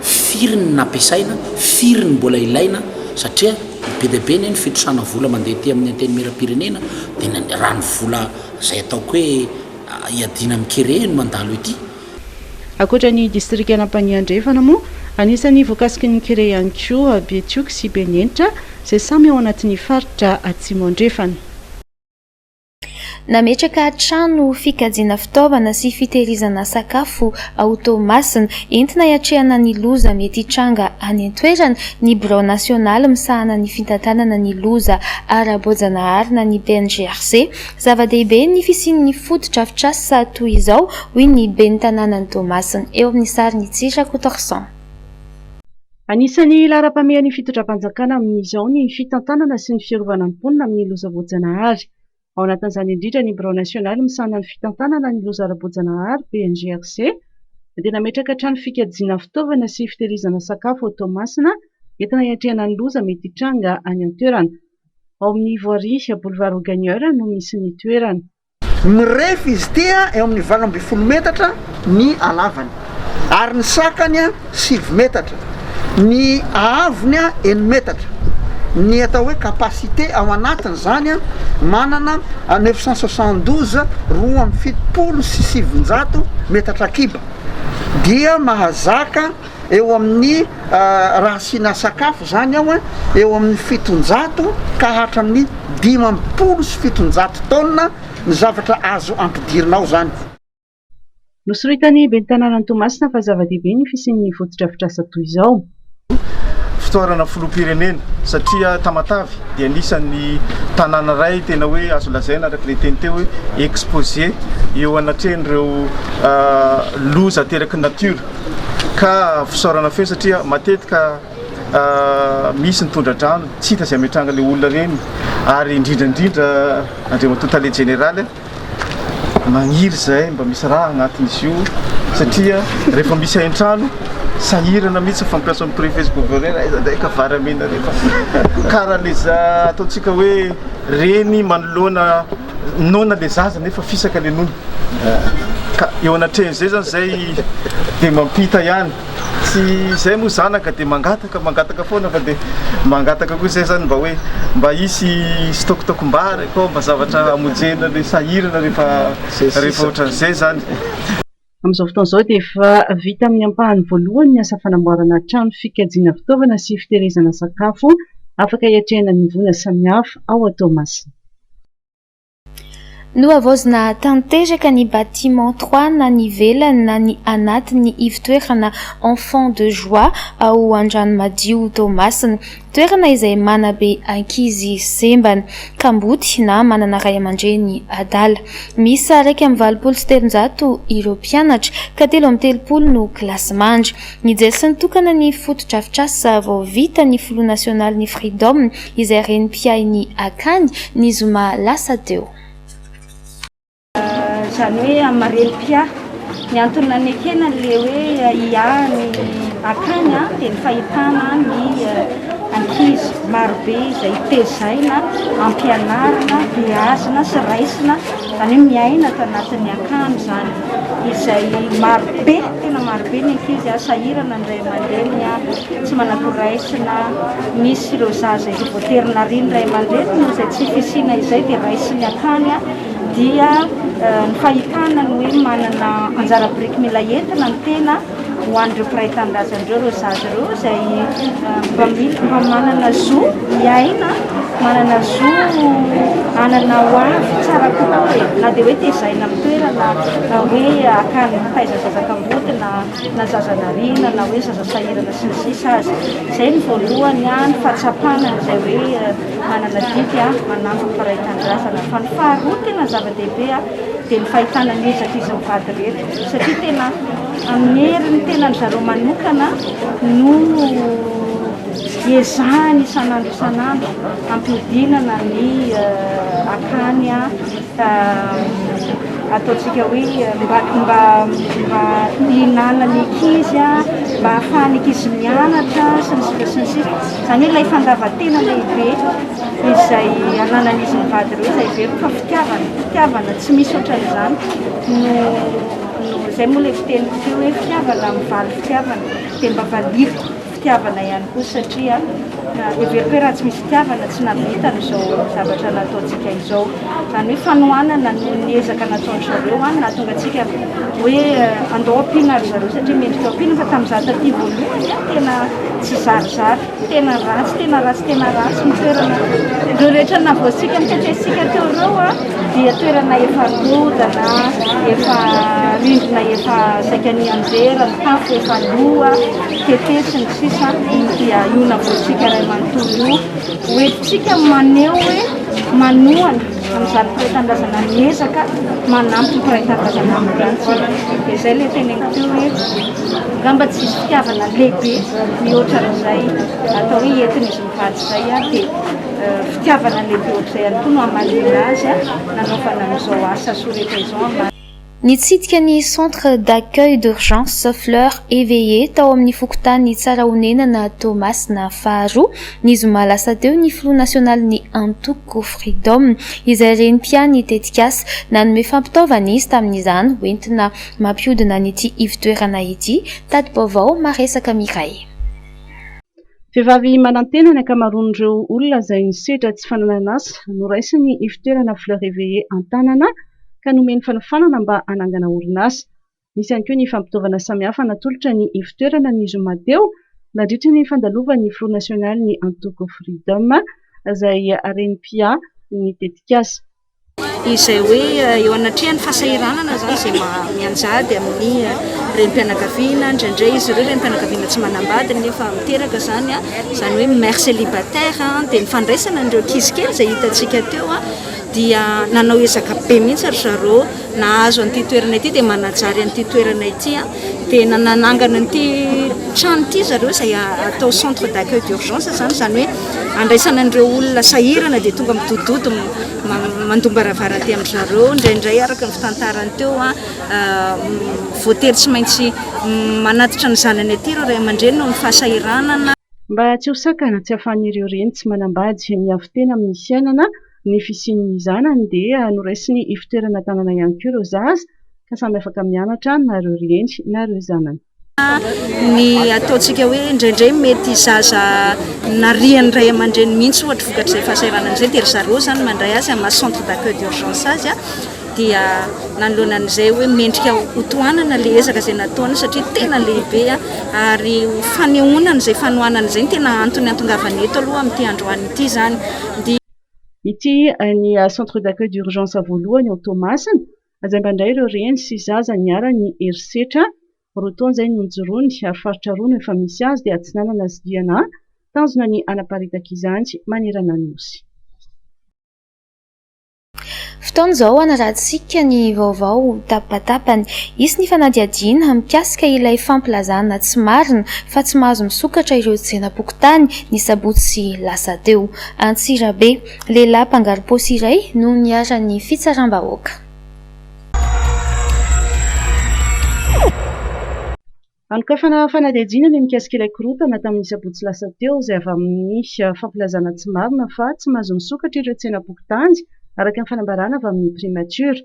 firy ny nampiasaina, firy ny mbola ilaina satria be dia be anie ny fitrosana vola mandeha aty amin'ny Antenimierampirenena dia raha ny vola Izay ataoko hoe iadiana amin'ny kere no mandalo ety. Ankoatra ny distrikan'Ampanihy Andrefana moa, anisan'ny voakasiky ny kere ihany koa Betioky sy Benenitra izay samy ao anatin'ny faritra Atsimo Andrefana. Nametraka trano fikajiana fitaovana sy fitehirizana sakafo ao Toamasina, entina hiatrehana ny loza mety hitranga any an-toerana, ny Birao Nasionaly misahana ny Fitantanana ny Loza Ara-boajanahary na ny BNGRC. Zava-dehibe ny fisian'ny fotodrafitrasa toy izao, hoy ny Ben'ny tanànan'i Toamasina. Eo amin'ny sarin'i Tsy Rakotoarison. Anisan'ny laharam-pahamehan'ny fitondram-panjakana amin'izao ny fitantanana sy ny fiarovana ny mponina amin'ny loza voajanahary. ao anatin'izany indrindra ny Birao Nasionaly misahana ny Fitantanana ny Loza Ara-boajanahary, BNGRC, dia nametraka trano fikajiana fitaovana sy fitehirizana sakafo ao Toamasina entina hiatrehana ny loza mety hitranga any an-toerana. Ao amin'ny Ivoiry, Boulevard Augagneur no misy ny toerana. Mirefy izy ity, eo amin'ny valo ambin'ny folo metatra ny halavany. ary ny sakany sivy metatra, ny haavony enina metatra, ny atao hoe capacité ao anatiny izany manana neuf cent soixante douze, roa amby fitopolo sy sivinjato, metatra kiba, dia mahazaka eo amin'ny raha asiana sakafo izany ao eo amin'ny fitonjato ka hatramin'ny dimampolo sy fitonjato taonina ny zavatra azo ampidirina ao izany. Nosoritan'ny ben'ny tanànan'i Toamasina fa zava-dehibe ny fisian'ny fotodrafitrasa toy izao. Fitorana filoham-pirenena satria Tamatave dia anisan'ny tanàna iray tena hoe azo lazaina araka ilay teny teo hoe exposé eo anatrehan'ireo loza ateraky ny natiora ka fisaorana feo satria matetika misy ny tondra-drano tsy hita izay hametrahana ilay olona ireny ary indrindra indrindra Andriamatoa Tale Jeneraly Magniry izay mba misy rà agnatin'izy io satria rehefa misy hain-trano sahirana mihitsy ny fampiasa ny prefets gouverneurs, aiza indray ka vary amena rehefa kara le za ataontsika hoe reny manoloana noana le zaza nefa fisaka le nono ka eo anatrehan'izay zany zay dia mampita ihany. Tsy izay moa zanaka dia mangataka mangataka foana fa dia mangataka koa izay izany mba hoe mba hisy sitôkitôkim-bary akao mba zavatra hamonjena ilay sahirana rehefa rehefa ohatran'izay izany. Amin'izao fotoana izao dia efa vita amin'ny ampahany voalohany ny asa fanamboarana trano fikajiana fitaovana sy fitehirizana sakafo afaka hiatrehana ny voina samihafa ao Toamasina. Nohavaozina tanteraka ny bâtiment trois na ny ivelany na ny anatiny ivon-toerana Enfants de joie ao Andranomadio Toamasina. Toerana izay manabe ankizy sembana, kamboty na manana ray aman-dreny adala. Miisa iraika amby valopolo sy telonjato ireo mpianatra ka telo amby telopolo no kilasimandry. Nijery nitokana ny fotodrafitrasa vao vita ny filoha nasionalin'ny Freedom izay reny mpiahy ny Akany, ny zoma lasa teo. Izany hoe amin'ny maha reny mpiahy. Ny antony nanekena an'ilay hoe hiahy ny Akany dia ny fahitana ny ankizy marobe izay tezaina ampianarina, beazina sy raisina, izany hoe miaina ato anatin'ny Akany izany. izay marobe, tena marobe ny ankizy sahirana ny ray aman-dreniny, tsy manakory raisina, misy ireo zaza efa voatery narian'ny ray aman-dreniny noho izay tsy fisiana izay dia raisiny hatrany, dia ny fahitana ny hoe manana anjara biriky mila entina ny tena ho an'ireo mpiray tanindrazana ireo ireo zaza ireo izay mba mino fa manana zo hiaina, manana zo hanana ho avy tsara kokoa e. Na dia hoe tezaina amin'ny toerana, na hoe akany mitaiza zaza kamboty na na zaza nariana na hoe zaza sahirana sy ny sisa aza. Izay no voalohany ny fahatsapana an'izay hoe manana didy manampy ny mpiray tanindrazana. Fa ny faharoa tena zava-dehibe dia ny fahitana ny hejak'izy mivady rehetra. satria tena amin'ny herin'ny tenany zareo manokana no ezahany isan'andro isan'andro hampiodinana ny eh, akany ah, eh, ataontsika hoe eh, mba mba mba hihinanan'ny ankizy ah, mba hahafahan'ny ankizy mianatra sy ny sisa sy ny sisa izany hoe ilay fandavan-tena lehibe izay ananan'izy mivady ireo izay very fa fitiavana fitiavana tsy misy ohatran'izany No no zay moa le fiteniko teo hoe fitiavana mivaly fitiavana dia mba valiviko fitiavana ihany koa satria heveriko hoe raha tsy misy fitiavana tsy nahavita an'izao zavatra nataontsika izao zany hoe fanohanana no ny ezaka nataon'ny zareo any nahatonga antsika hoe andao ampiana ry zareo satria mendrika ampiana fa tamin'ny za taty voalohany tena tsy zarizary Tena ratsy tena ratsy tena ratsy ny toerana. Ireo rehetra navoasika niteteisika teo ireo a dia toerana efa rodana, efa rindrina efa saika nianjera, ny tafo efa loa, tete sy ny sisa dia io navoasika iray manontolo io hoentintsika maneho hoe manohana Amin'izany mpiray tanindrazana miezaka manampy ny mpiray tanindrazana amin'ny rantsiny dia izay ilay teneniko teo hoe angamba tsy hisy fitiavana lehibe mihoatra an'izay atao hoe entin'izy mivady izay a dia fitiavana lehibe ohatr'izay ihany koa no hamaliana azy a nanaovana an'izao asa soretra izao. Nitsidika ny Centre d'accueil d'urgence Fleur Eveillée tao amin'ny fokontany Tsarahonenana Toamasina faharoa, ny zoma lasa teo, ny filoha nasionalin'ny antoko Freedom, izay renim-pian'ny tetikasa. Nanome fampitaovana izy tamin'izany hoentina mampihodina an'ity ivo-toerana ity. Tati-baovao maresaka Mireille. Vehivavy manantena ny ankamaroan'ireo olona izay nisedra tsy fananan'asa. Noraisiny ivotoerana Fleur Eveillée an-tanana ka nomeny fanofanana mba hanangana orinasa. Nisy ihany koa ny fampitaovana samihafa natolotra ny ivotoerana ny zoma teo nandritra ny fandalovan'ny filoha nasionalin'ny antoko Freedom izay harem-piahy ny tetikasa. izay hoe eo anatrehan'ny fahasahiranana izany izay mianjady amin'ny renim-pianakaviana, indraindray izy ireo renim-pianakaviana tsy manambady nefa miteraka izany, izany hoe mère célibataire, dia ny fandraisana an'ireo ankizy kely izay hitantsika teo dia nanao ezaka be mihitsy ry zareo. nahazo an'ity toerana ity dia manajary an'ity toerana ity a dia nanangana an'ity trano ity zareo izay atao centre d'accueil d'urgence izany izany hoe andraisana an'ireo olona sahirana dia tonga midodidody mandombaravara aty amin-dry zareo indraindray araka ny fitantarany teo a voatery tsy maintsy manatitra ny zanany aty ireo ray aman-dreny noho ny fahasahiranana mba tsy ho sakana tsy ahafahan'ireo reny tsy manambady miavo-tena amin'ny fiainana Ny fisian'ny zanany dia noraisin'ny ifotoerana an-tanana ihany koa ireo zaza ka samy afaka mianatra na ireo ry eny na ireo zanany. Ny ataontsika hoe indraindray mety zaza narian'ny ray aman-dreny mihitsy ohatra vokatr'izay fahasahiranana izay dia ry zareo izany mandray azy amin'ny maha centre d'accueil d'urgence azy. dia nanoloana an'izay hoe mendrika ho tohanana ilay ezaka izay nataony satria tena lehibe ary ho fanehoana an'izay fanohanana izay ny tena antony antongavany eto aloha amin'ity androany ity izany. Ity ny centre d'accueil d'urgence voalohany ao Toamasina, izay mba indray ireo reny sy zaza niharan'ny herisetra roa taona izay no nijoroany ary faritra roa no efa misy azy dia Atsinanana sy Diana, tanjona ny hanaparitaka izany manerana ny Nosy. Fotoana izao hanaratsika ny vaovao ho tapahatapany. Hisy ny fanadihadiana mikasika ilay fampilazana tsy marina fa tsy mahazo misokatra ireo tsenam-pokontany ny sabotsy lasa teo. Antsirabe, lehilahy mpangarom-paosy iray no niharan'ny fitsaram-bahoaka. Hanokafana fanadihadiana ny mikasika ilay korontana tamin'ny sabotsy lasa teo, izay avy amin'ny fampilazana tsy marina fa tsy mahazo misokatra ireo tsenam-pokontany, araka ny fanambarana avy amin'ny Primature.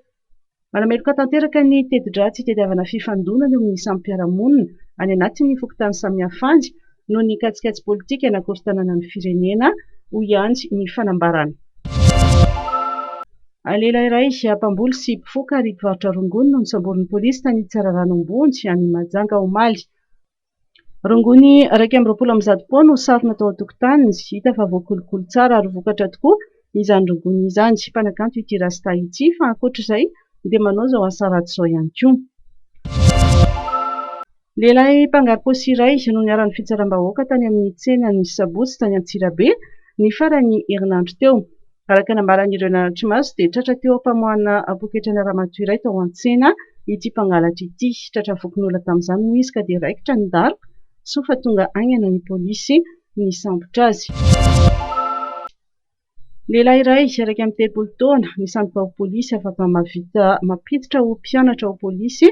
Manameloka tanteraka ny teti-dratsy hitadiavana fifandonana eo amin'ny samy mpiara-monina any anatin'ny fokontany samihafa any, noho ny katsikatsy politika nakorontanana ny firenena, hoy ihany ny fanambarana. Lehilahy iray mpamboly sy mpifoka ary mpivarotra rongony no nosamborin'ny polisy tany Tsararano Ambony any Mahajanga omaly. Rongony iraika amby roapolo amby zato pao no sarona tao an-tokotaniny. Hita fa voakolokolo tsara ary vokatra tokoa izany rongony izany. Mpanakanto ity Rasta ity fa ankoatra izay dia manao izao asa ratsy izao ihany koa. Lehilahy mpangarom-paosy iray no niharan'ny fitsaram-bahoaka tany amin'ny tsena ny sabotsy tany Antsirabe ny faran'ny herinandro teo. Araka nambaran'ireo naratry maso dia tratra teo am-pamoahana poketrana ramatoa iray tao an-tsena ity mpangalatra ity. Tratra vokin'olona tamin'izany moa izy ka dia raikitra ny daroka soa fa tonga haingana ny polisy nisambotra azy. Lehilahy iray iraika amby telopolo taona, misandoka ho polisy afaka mahavita mampiditra ho mpianatra ho polisy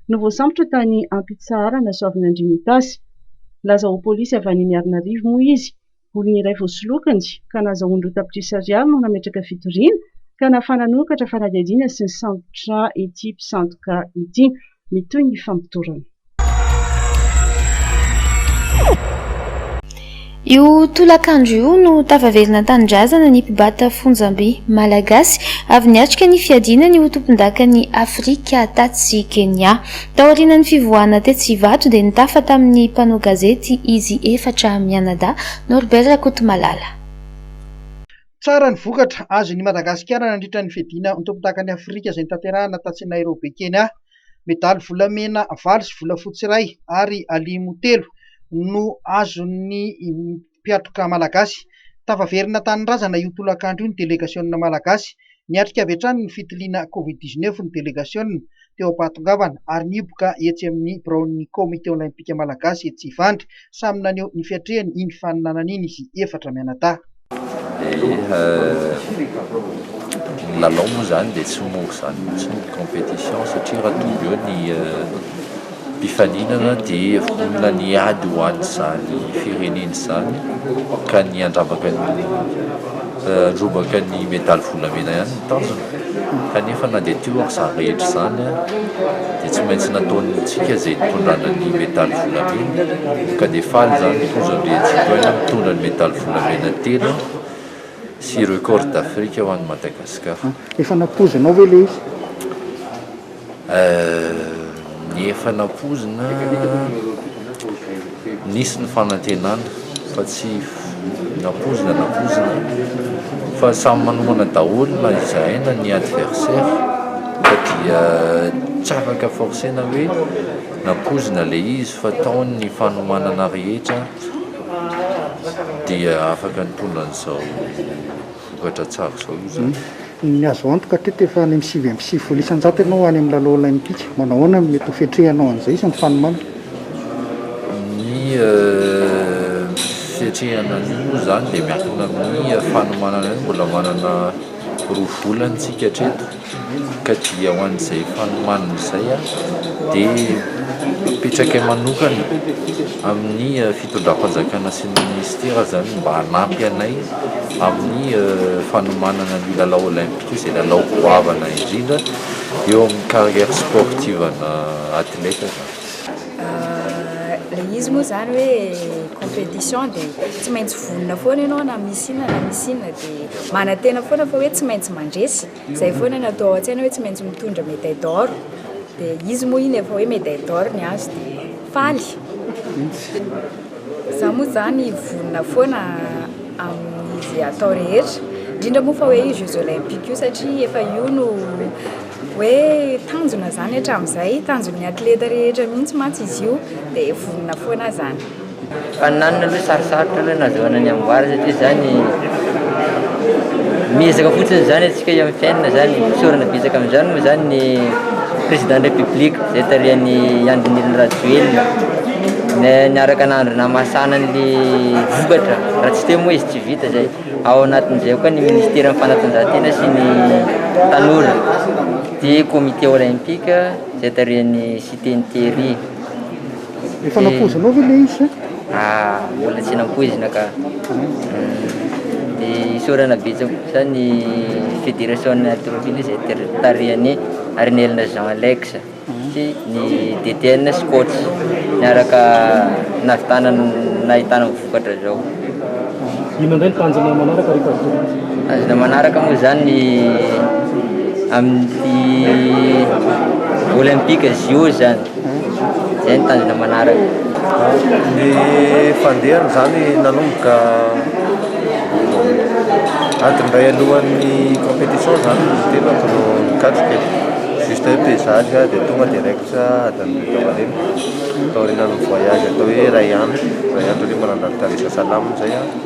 no voasambotra tany Ampitsisaharana, Soavinandriana-Itasy. Nilaza ho polisy avy any Miarinarivo moa izy. Olona iray voasolokiny ka nahazahoany roa tapitrisa ariary no nametraka fitoriana ka nahafahana nihokatra fanadihadiana sy nisambotra ity mpisandoka ity. Mitohy ny famotorana. Io tolakandro io no tafaverina an-tanindrazana ny mpibata fonjamby malagasy avy niatrika ny fiadiana ny ho tompondakan'i Afrika tatsy Kenya. Taorianan'ny fivoahana tetsy Ivato dia nitafa tamin'ny mpanao gazety izy efatra mianadahy, Norbert Rakotomalala. Tsara ny vokatra azon'i Madagasikara nandritra ny fiadiana ho tompondakan'i Afrika izay notanterahina tatsy Nairobi, Kenya. Medaly volamena valo sy volafotsy iray ary alimo telo no azon'ny mpiatroka malagasy. Tafaverina tanindrazana io tolakandro io ny delegasionina malagasy. Niatrika avy hatrany ny fitiliana covid dix neuf ny delegasionina teo am-pahatongavana ary nihiboka etsy amin'ny biraon'ny Komite Olaimpika Malagasy etsy Ivandry. Samy naneho ny fiatrehany iny faninanana iny izy efatra mianadahy. Ny lalao moa izany dia tsy mora izany mihitsy ny compétition satria raha tonga eo ny mpifaninana dia vonona ny hiady ho an'izany fireneny izany ka ny handrobaka ny medaly volamena ihany no tanjona. Kanefa na dia teo aza izany rehetra izany dia tsy maintsy nataontsika izay nitondrana ny medaly volamena ka dia faly izany ny Fonja Andriantsitohaina mitondra ny medaly volamena telo sy record d'Afrique ho an'i Madagasikara. Efa nampoizinao ve ilay izy? Ny efa nampoizina, nisy ny fanantenana fa tsy nampoizina nampoizina fa samy manomana daholo na izahay na ny adversaire fa dia tsy afaka forcer-na hoe nampoizina ilay izy fa tao ny fanomanana rehetra dia afaka nitondra an'izao. vokatra tsara izao io izany. Ny azo antoka hatreto dia efa any amin'ny sivy amby sivifolo isan-jato ianao any amin'ny lalao olaimpika. Manao ahoana ny mety ho fiatrehanao an'izay sy ny fanomana? Ny fiatrehana an'io moa izany dia miankina amin'ny fanomanana io. Mbola manana roa volana isika hatreto. ka dia ho an'izay fanomanana izay dia mipetraka manokana amin'ny fitondram-panjakana sy ny minisitera izany mba hanampy anay amin'ny fanomanana ny lalao olaimpika izay lalao goavana indrindra eo amin'ny carrière sportive ana athlète izany. Ilay izy moa izany hoe compétition dia tsy maintsy vonona foana ianao na misy inona na misy inona dia manantena foana fa hoe tsy maintsy mandresy. Zay foana no atao ao an-tsaina hoe tsy maintsy mitondra médaille d'or, dia izy moa iny efa hoe médaille d'or ny azy dia faly. Za moa zany vonona foana amin'ny ze atao rehetra, indrindra moa fa hoe io jeux olympiques io satria efa io no hoe tanjona zany hatramin'izay, tanjon'ny athlète rehetra mihitsy mantsy izy io dia vonona foana zany. Faninanana aloha sarosarotra aloha ny azahoana ny amboara satria zany miezaka fotsiny zany atsika eo amin'ny fiainana zany fisaorana betsaka amin'izany moa zany ny président de la république zay tarihan'i Andry Nirina Rajoelina niaraka nandry nahamasana an'le vokatra raha tsy teo moa izy tsy vita zay ao anatin'izay koa ny ministeran'ny fanatanjahantena sy ny tanora dia comité olympique zay tarihan'i Siteny Thierry Efa nampoizinao ve le izy? Ah, mbola tsy nampoizina ka. Dia isaorana betsaka kosa ny Fédération Atrophile izay tarihan'i Arinelina Jean Alex sy ny DTN Scouts niaraka nahavitana nahitana vokatra zao. Inona indray ny tanjonao manaraka ry Pasteur? Tanjona manaraka moa izany ny amin'ny Olympique JO izany. Izay no tanjona manaraka. Ny fandehany izany nanomboka adiny iray alohan'ny compétition izany ny tenako no nikatroka e. Juste hoe pesage aho dia tonga direct adiny roa teo aoriana. Taorianan'ny voyage atao hoe iray andro, iray andro aloha mba nandalo tany Sasalama izay aho.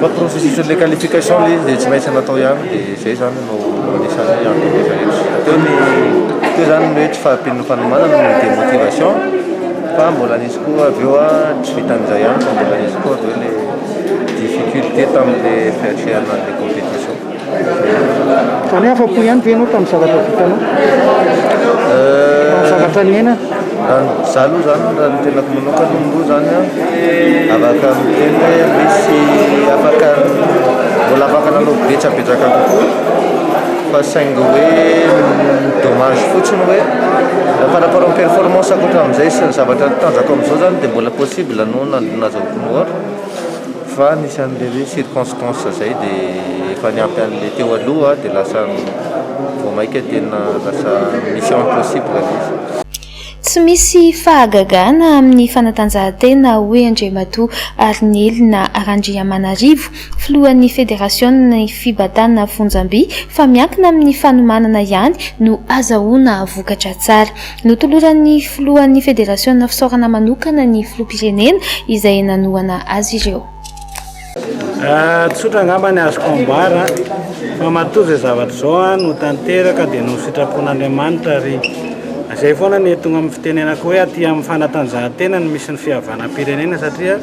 Fa processus le qualification le izy dia tsy maintsy natao ihany dia izay zany no anisan'ny hoe antony efa ela. Teo ny teo zany ny hoe tsy fahampian'ny fanomanana no demotivation fa mbola nisy koa avy eo tsy vitan'izay ihany fa mbola nisy koa avy eo le difficulté tamin'le fiatrehana an'le competition. Fa ny afa-po ihany ve ianao tamin'ny zavatra vitanao? Tamin'ny zavatra niainana? Raha ny izaho aloha izany, raha ny tenako manokana aloha izany an, afaka miteny hoe misy afaka mbola afaka nanao betsabetsaka kokoa fa saingy hoe ny dommage fotsiny hoe par rapport amin'ny performance ankoatra an'izay sy ny zavatra tanjako amin'izao izany dia mbola possible ny hoe nahazoako ny ohatra. Fa nisy an'ilay hoe circonstances izay dia efa niampy an'ilay teo aloha dia lasa vao mainka tena lasa mission impossible ilay izy. Tsy misy fahagagana amin'ny fanatanjahantena hoy Andriamatoa Arinelina Randriamanarivo, filohan'ny federasionan'ny fibatana fonjam-by fa miankina amin'ny fanomanana ihany no azahoana vokatra tsara. Notoloran'ny filohan'ny federasiona fisaorana manokana ny filoham-pirenena izay nanohana azy ireo. Tsotra angamba ny azoko ambara fa matoa izao zavatra izao no tanteraka dia noho ny sitrapon'Andriamanitra ary izay foana ny tonga amin'ny fitenenako hoe aty amin'ny fanatanjahantena no misy ny fihavanam-pirenena satria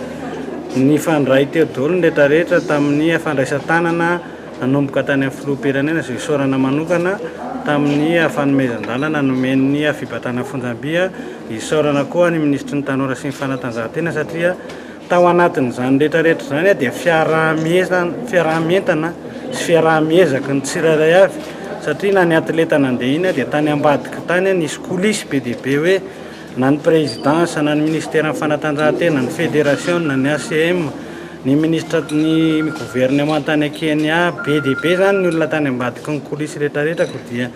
nifandray teo daholo ny rehetra rehetra tamin'ny fandraisan-tanana Nanomboka tany amin'ny filoham-pirenena izao isaorana manokana tamin'ny fanomezan-dalana nomen'ny fibatana fonjam-by. Isaorana koa ny minisitry ny Tanora sy ny fanatanjahantena satria tao anatin'izany rehetra rehetra izany dia fiaraha-mientana fiaraha-mientana sy fiaraha-miezaky ny tsirairay avy satria na ny atleta nandeha iny dia tany ambadika tany nisy coulisse be dia be hoe Na ny Présidence, na ny Minisiteran'ny Fanatanjahantena, ny Federasiona, ny ACM, ny Minisitra, ny Governemanta any Kenya, be dia be izany ny olona tany ambadiky ny coulisse rehetrarehetra koa dia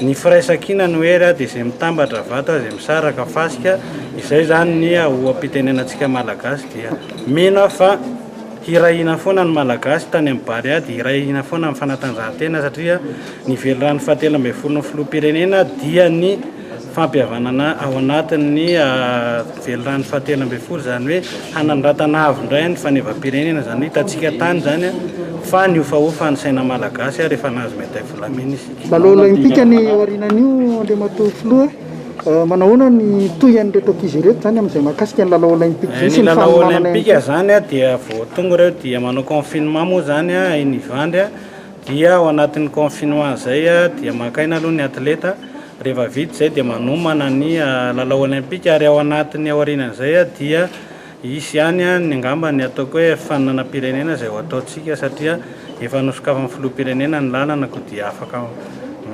ny firaisankina no hery dia izay mitambatra vata, izay misaraka fasika, izay izany ny oha-pitenenantsika Malagasy dia mino aho fa hirahina foana ny Malagasy tany amin'ny Barea dia hirahina foana ny Fanatanjahantena satria ny Velirano fahatelo ambin'ny folon'ny Filoham-pirenena dia ny fampihavanana ao anatin'ny velirano fahatelo ambin'ny folo, izany hoe hanandratana avo indray ny fanevam-pirenena, izany hoe hitantsika tany izany fa nihofahofa ny saina malagasy ary efa nahazo medaille volamena isika. Lalao olaimpika ny aorianan'io Andriamatoa Filoha, manahoana ny tohin'ireto ankizy ireto izany amin'izay mahakasika ny lalao olaimpika izay sy ny fanomanana ihany koa? Ny lalao olaimpika izany dia vao tonga ireo dia manao confinement moa izany i Nivandry dia ao anatin'ny confinement izay dia maka aina aloha ny atleta, Rehefa vita izay dia manomana ny lalao olympika ary ao anatin'ny aorianan'izay dia hisy ihany ny angamba ny ataoko hoe fifaninanam-pirenena izay ho ataontsika satria efa nosokafan'ny filoham-pirenena ny lalana koa dia afaka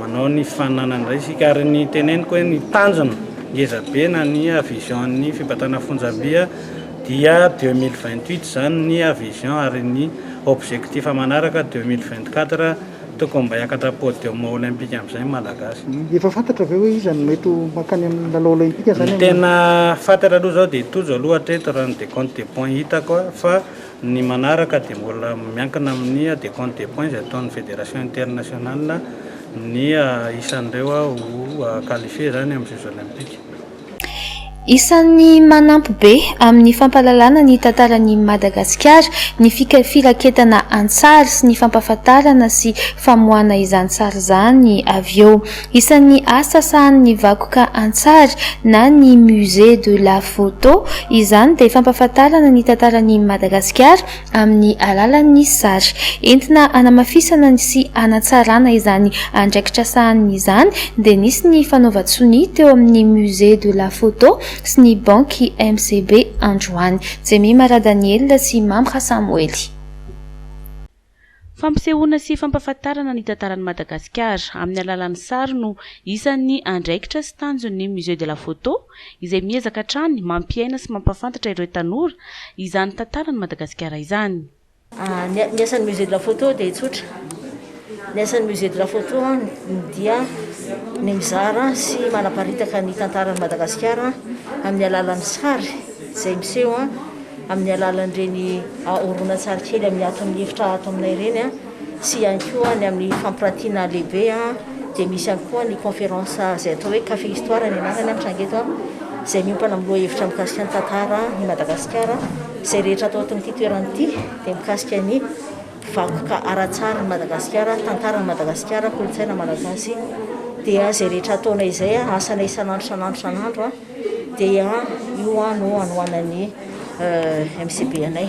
manao ny fifaninanana indray isika ary ny teneniko hoe ny tanjona ngeza be na ny vision-n'ny fibatrana fonjam-by dia deux mille vingt huit izany ny vision ary ny objectif manaraka deux mille vingt quatre Tokony mba hiakatra podium olympique amin'izay ny Malagasy. Efa fantatra ve hoe iza no mety ho mankany amin'ny lalao olympique zany? Ny tena fantatra aloha izao dia Tojo aloha hatreto raha ny decompte des points hitako fa ny manaraka dia mbola miankina amin'ny decompte des points izay ataon'ny federation internationale ny isan'ireo ho qualifier izany amin'ny jeux olympiques. Isan'ny manampy be amin'ny fampahalalana ny tantaran'i Madagasikara ny fika firaketana an-tsary sy ny fampahafantarana sy famoahana izany sary izany avy eo. Isan'ny asa sahanin'ny vakoka an-tsary na ny Musée de la Photo izany dia fampahafantarana ny tantaran'i Madagasikara amin'ny alalan'ny sary. Entina hanamafisana sy hanatsarana izany andraikitra sahaniny izany dia nisy ny fanaovan-tsonia teo amin'ny Musée de la Photo sy ny Banky MCB androany. Jemima Radaniel sy Mamra Samoely. Fampisehoana sy fampahafantarana ny tantaran'i Madagasikara amin'ny alalan'ny sary no isan'ny andraikitra sy tanjon'ny Musée de la Photo, izay miezaka hatrany mampiaina sy mampahafantatra ireo tanora izany tantaran'i Madagasikara izany. Ny asan'ny Musée de la Photo dia tsotra. Ny asan'ny Musée de la Photo dia ny mizara sy manaparitaka ny tantaran'i Madagasikara amin'ny alalan'ny sary izay miseho. amin'ny alalan'ireny horonantsary kely amin'ny ato amin'ny efitra ato aminay ireny sy ihany koa ny amin'ny fampirantiana lehibe dia misy ihany koa ny conférence izay atao hoe café histoire ny anarany mitranga eto izay miompana amin'ny lohahevitra mikasika ny tantara i Madagasikara izay rehetra atao ato amin'ity toerana ity dia mikasika ny vakoka ara-tsary ny Madagasikara tantaran'i Madagasikara kolontsaina malagasy dia izay rehetra ataonay izay asana isan'andro isan'andro isan'andro Dia io no hanohanan'ny MCB anay.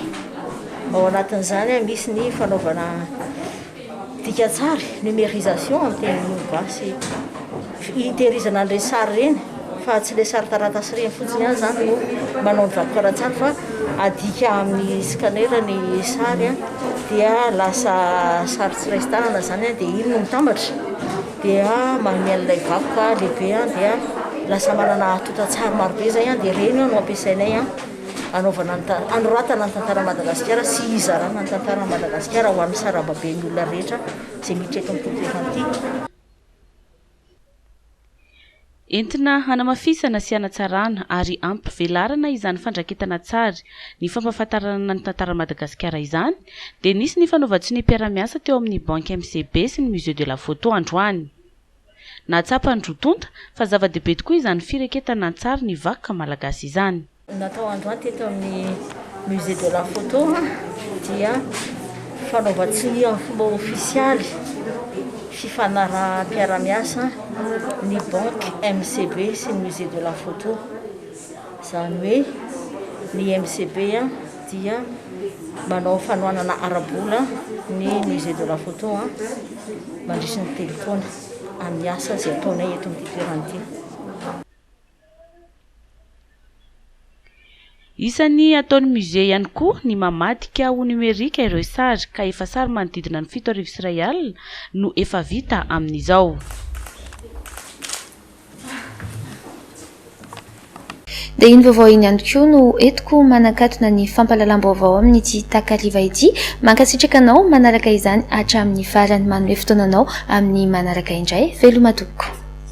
Ao anatin'izany misy ny fanaovana dikan-tsary, numérisation amin'ny teny gasy, hitehirizana an'ireny sary ireny fa tsy ilay sary taratasy ireny fotsiny ihany izany no manao ny vakoka ara-tsary fa adika amin'ny scanner ny sary dia lasa sary tsy raisin-tanana izany dia iny no mitambatra. dia manome an'ilay vakoka lehibe an dia lasa manana atotan-tsary marobe izay an dia ireny no ampiasainay an anaovana ny tantara anoratana ny tantara Madagasikara sy hizarana ny tantara Madagasikara ho an'ny sarababen'ny olona rehetra izay miditra eto amin'ny tontolo iray ity. Entina hanamafisana sy hanatsarana ary hampivelarana izany fandraketana tsary ny fampahafantarana ny tantaran'i Madagasikara izany dia nisy ny fanaovan-tsonia mpiara-miasa teo amin'ny Banky MCB sy ny Musée de la Photo androany. Nahatsapan'ny roa tonta fa zava-dehibe tokoa izany fireketana an-tsary ny vakoka malagasy izany. Natao androany teto amin'ny Musée de la Photo dia fanaovan-tsonia amin'ny fomba ofisialy fifanaraham-piarahamiasa ny Banque MCB sy ny Musée de la Photo. Izany hoe ny MCB dia manao fanohanana ara-bola ny Musée de la Photo mandritra ny telo taona amin'ny asa izay ataonay eto amin'ity toerana ity. Isan'ny ataon'ny Musée ihany koa ny mamadika ho numerika ireo sary, ka efa sary manodidina ny fito arivo sy iray alina no efa vita amin'izao. Dia iny vaovao iny ihany koa no entiko manakatona ny fampahalalam-baovao amin'ity takariva ity. Mankasitraka anao manaraka izany hatramin'ny farany. Manome fotoananao amin'ny manaraka indray. Veloma tompoko.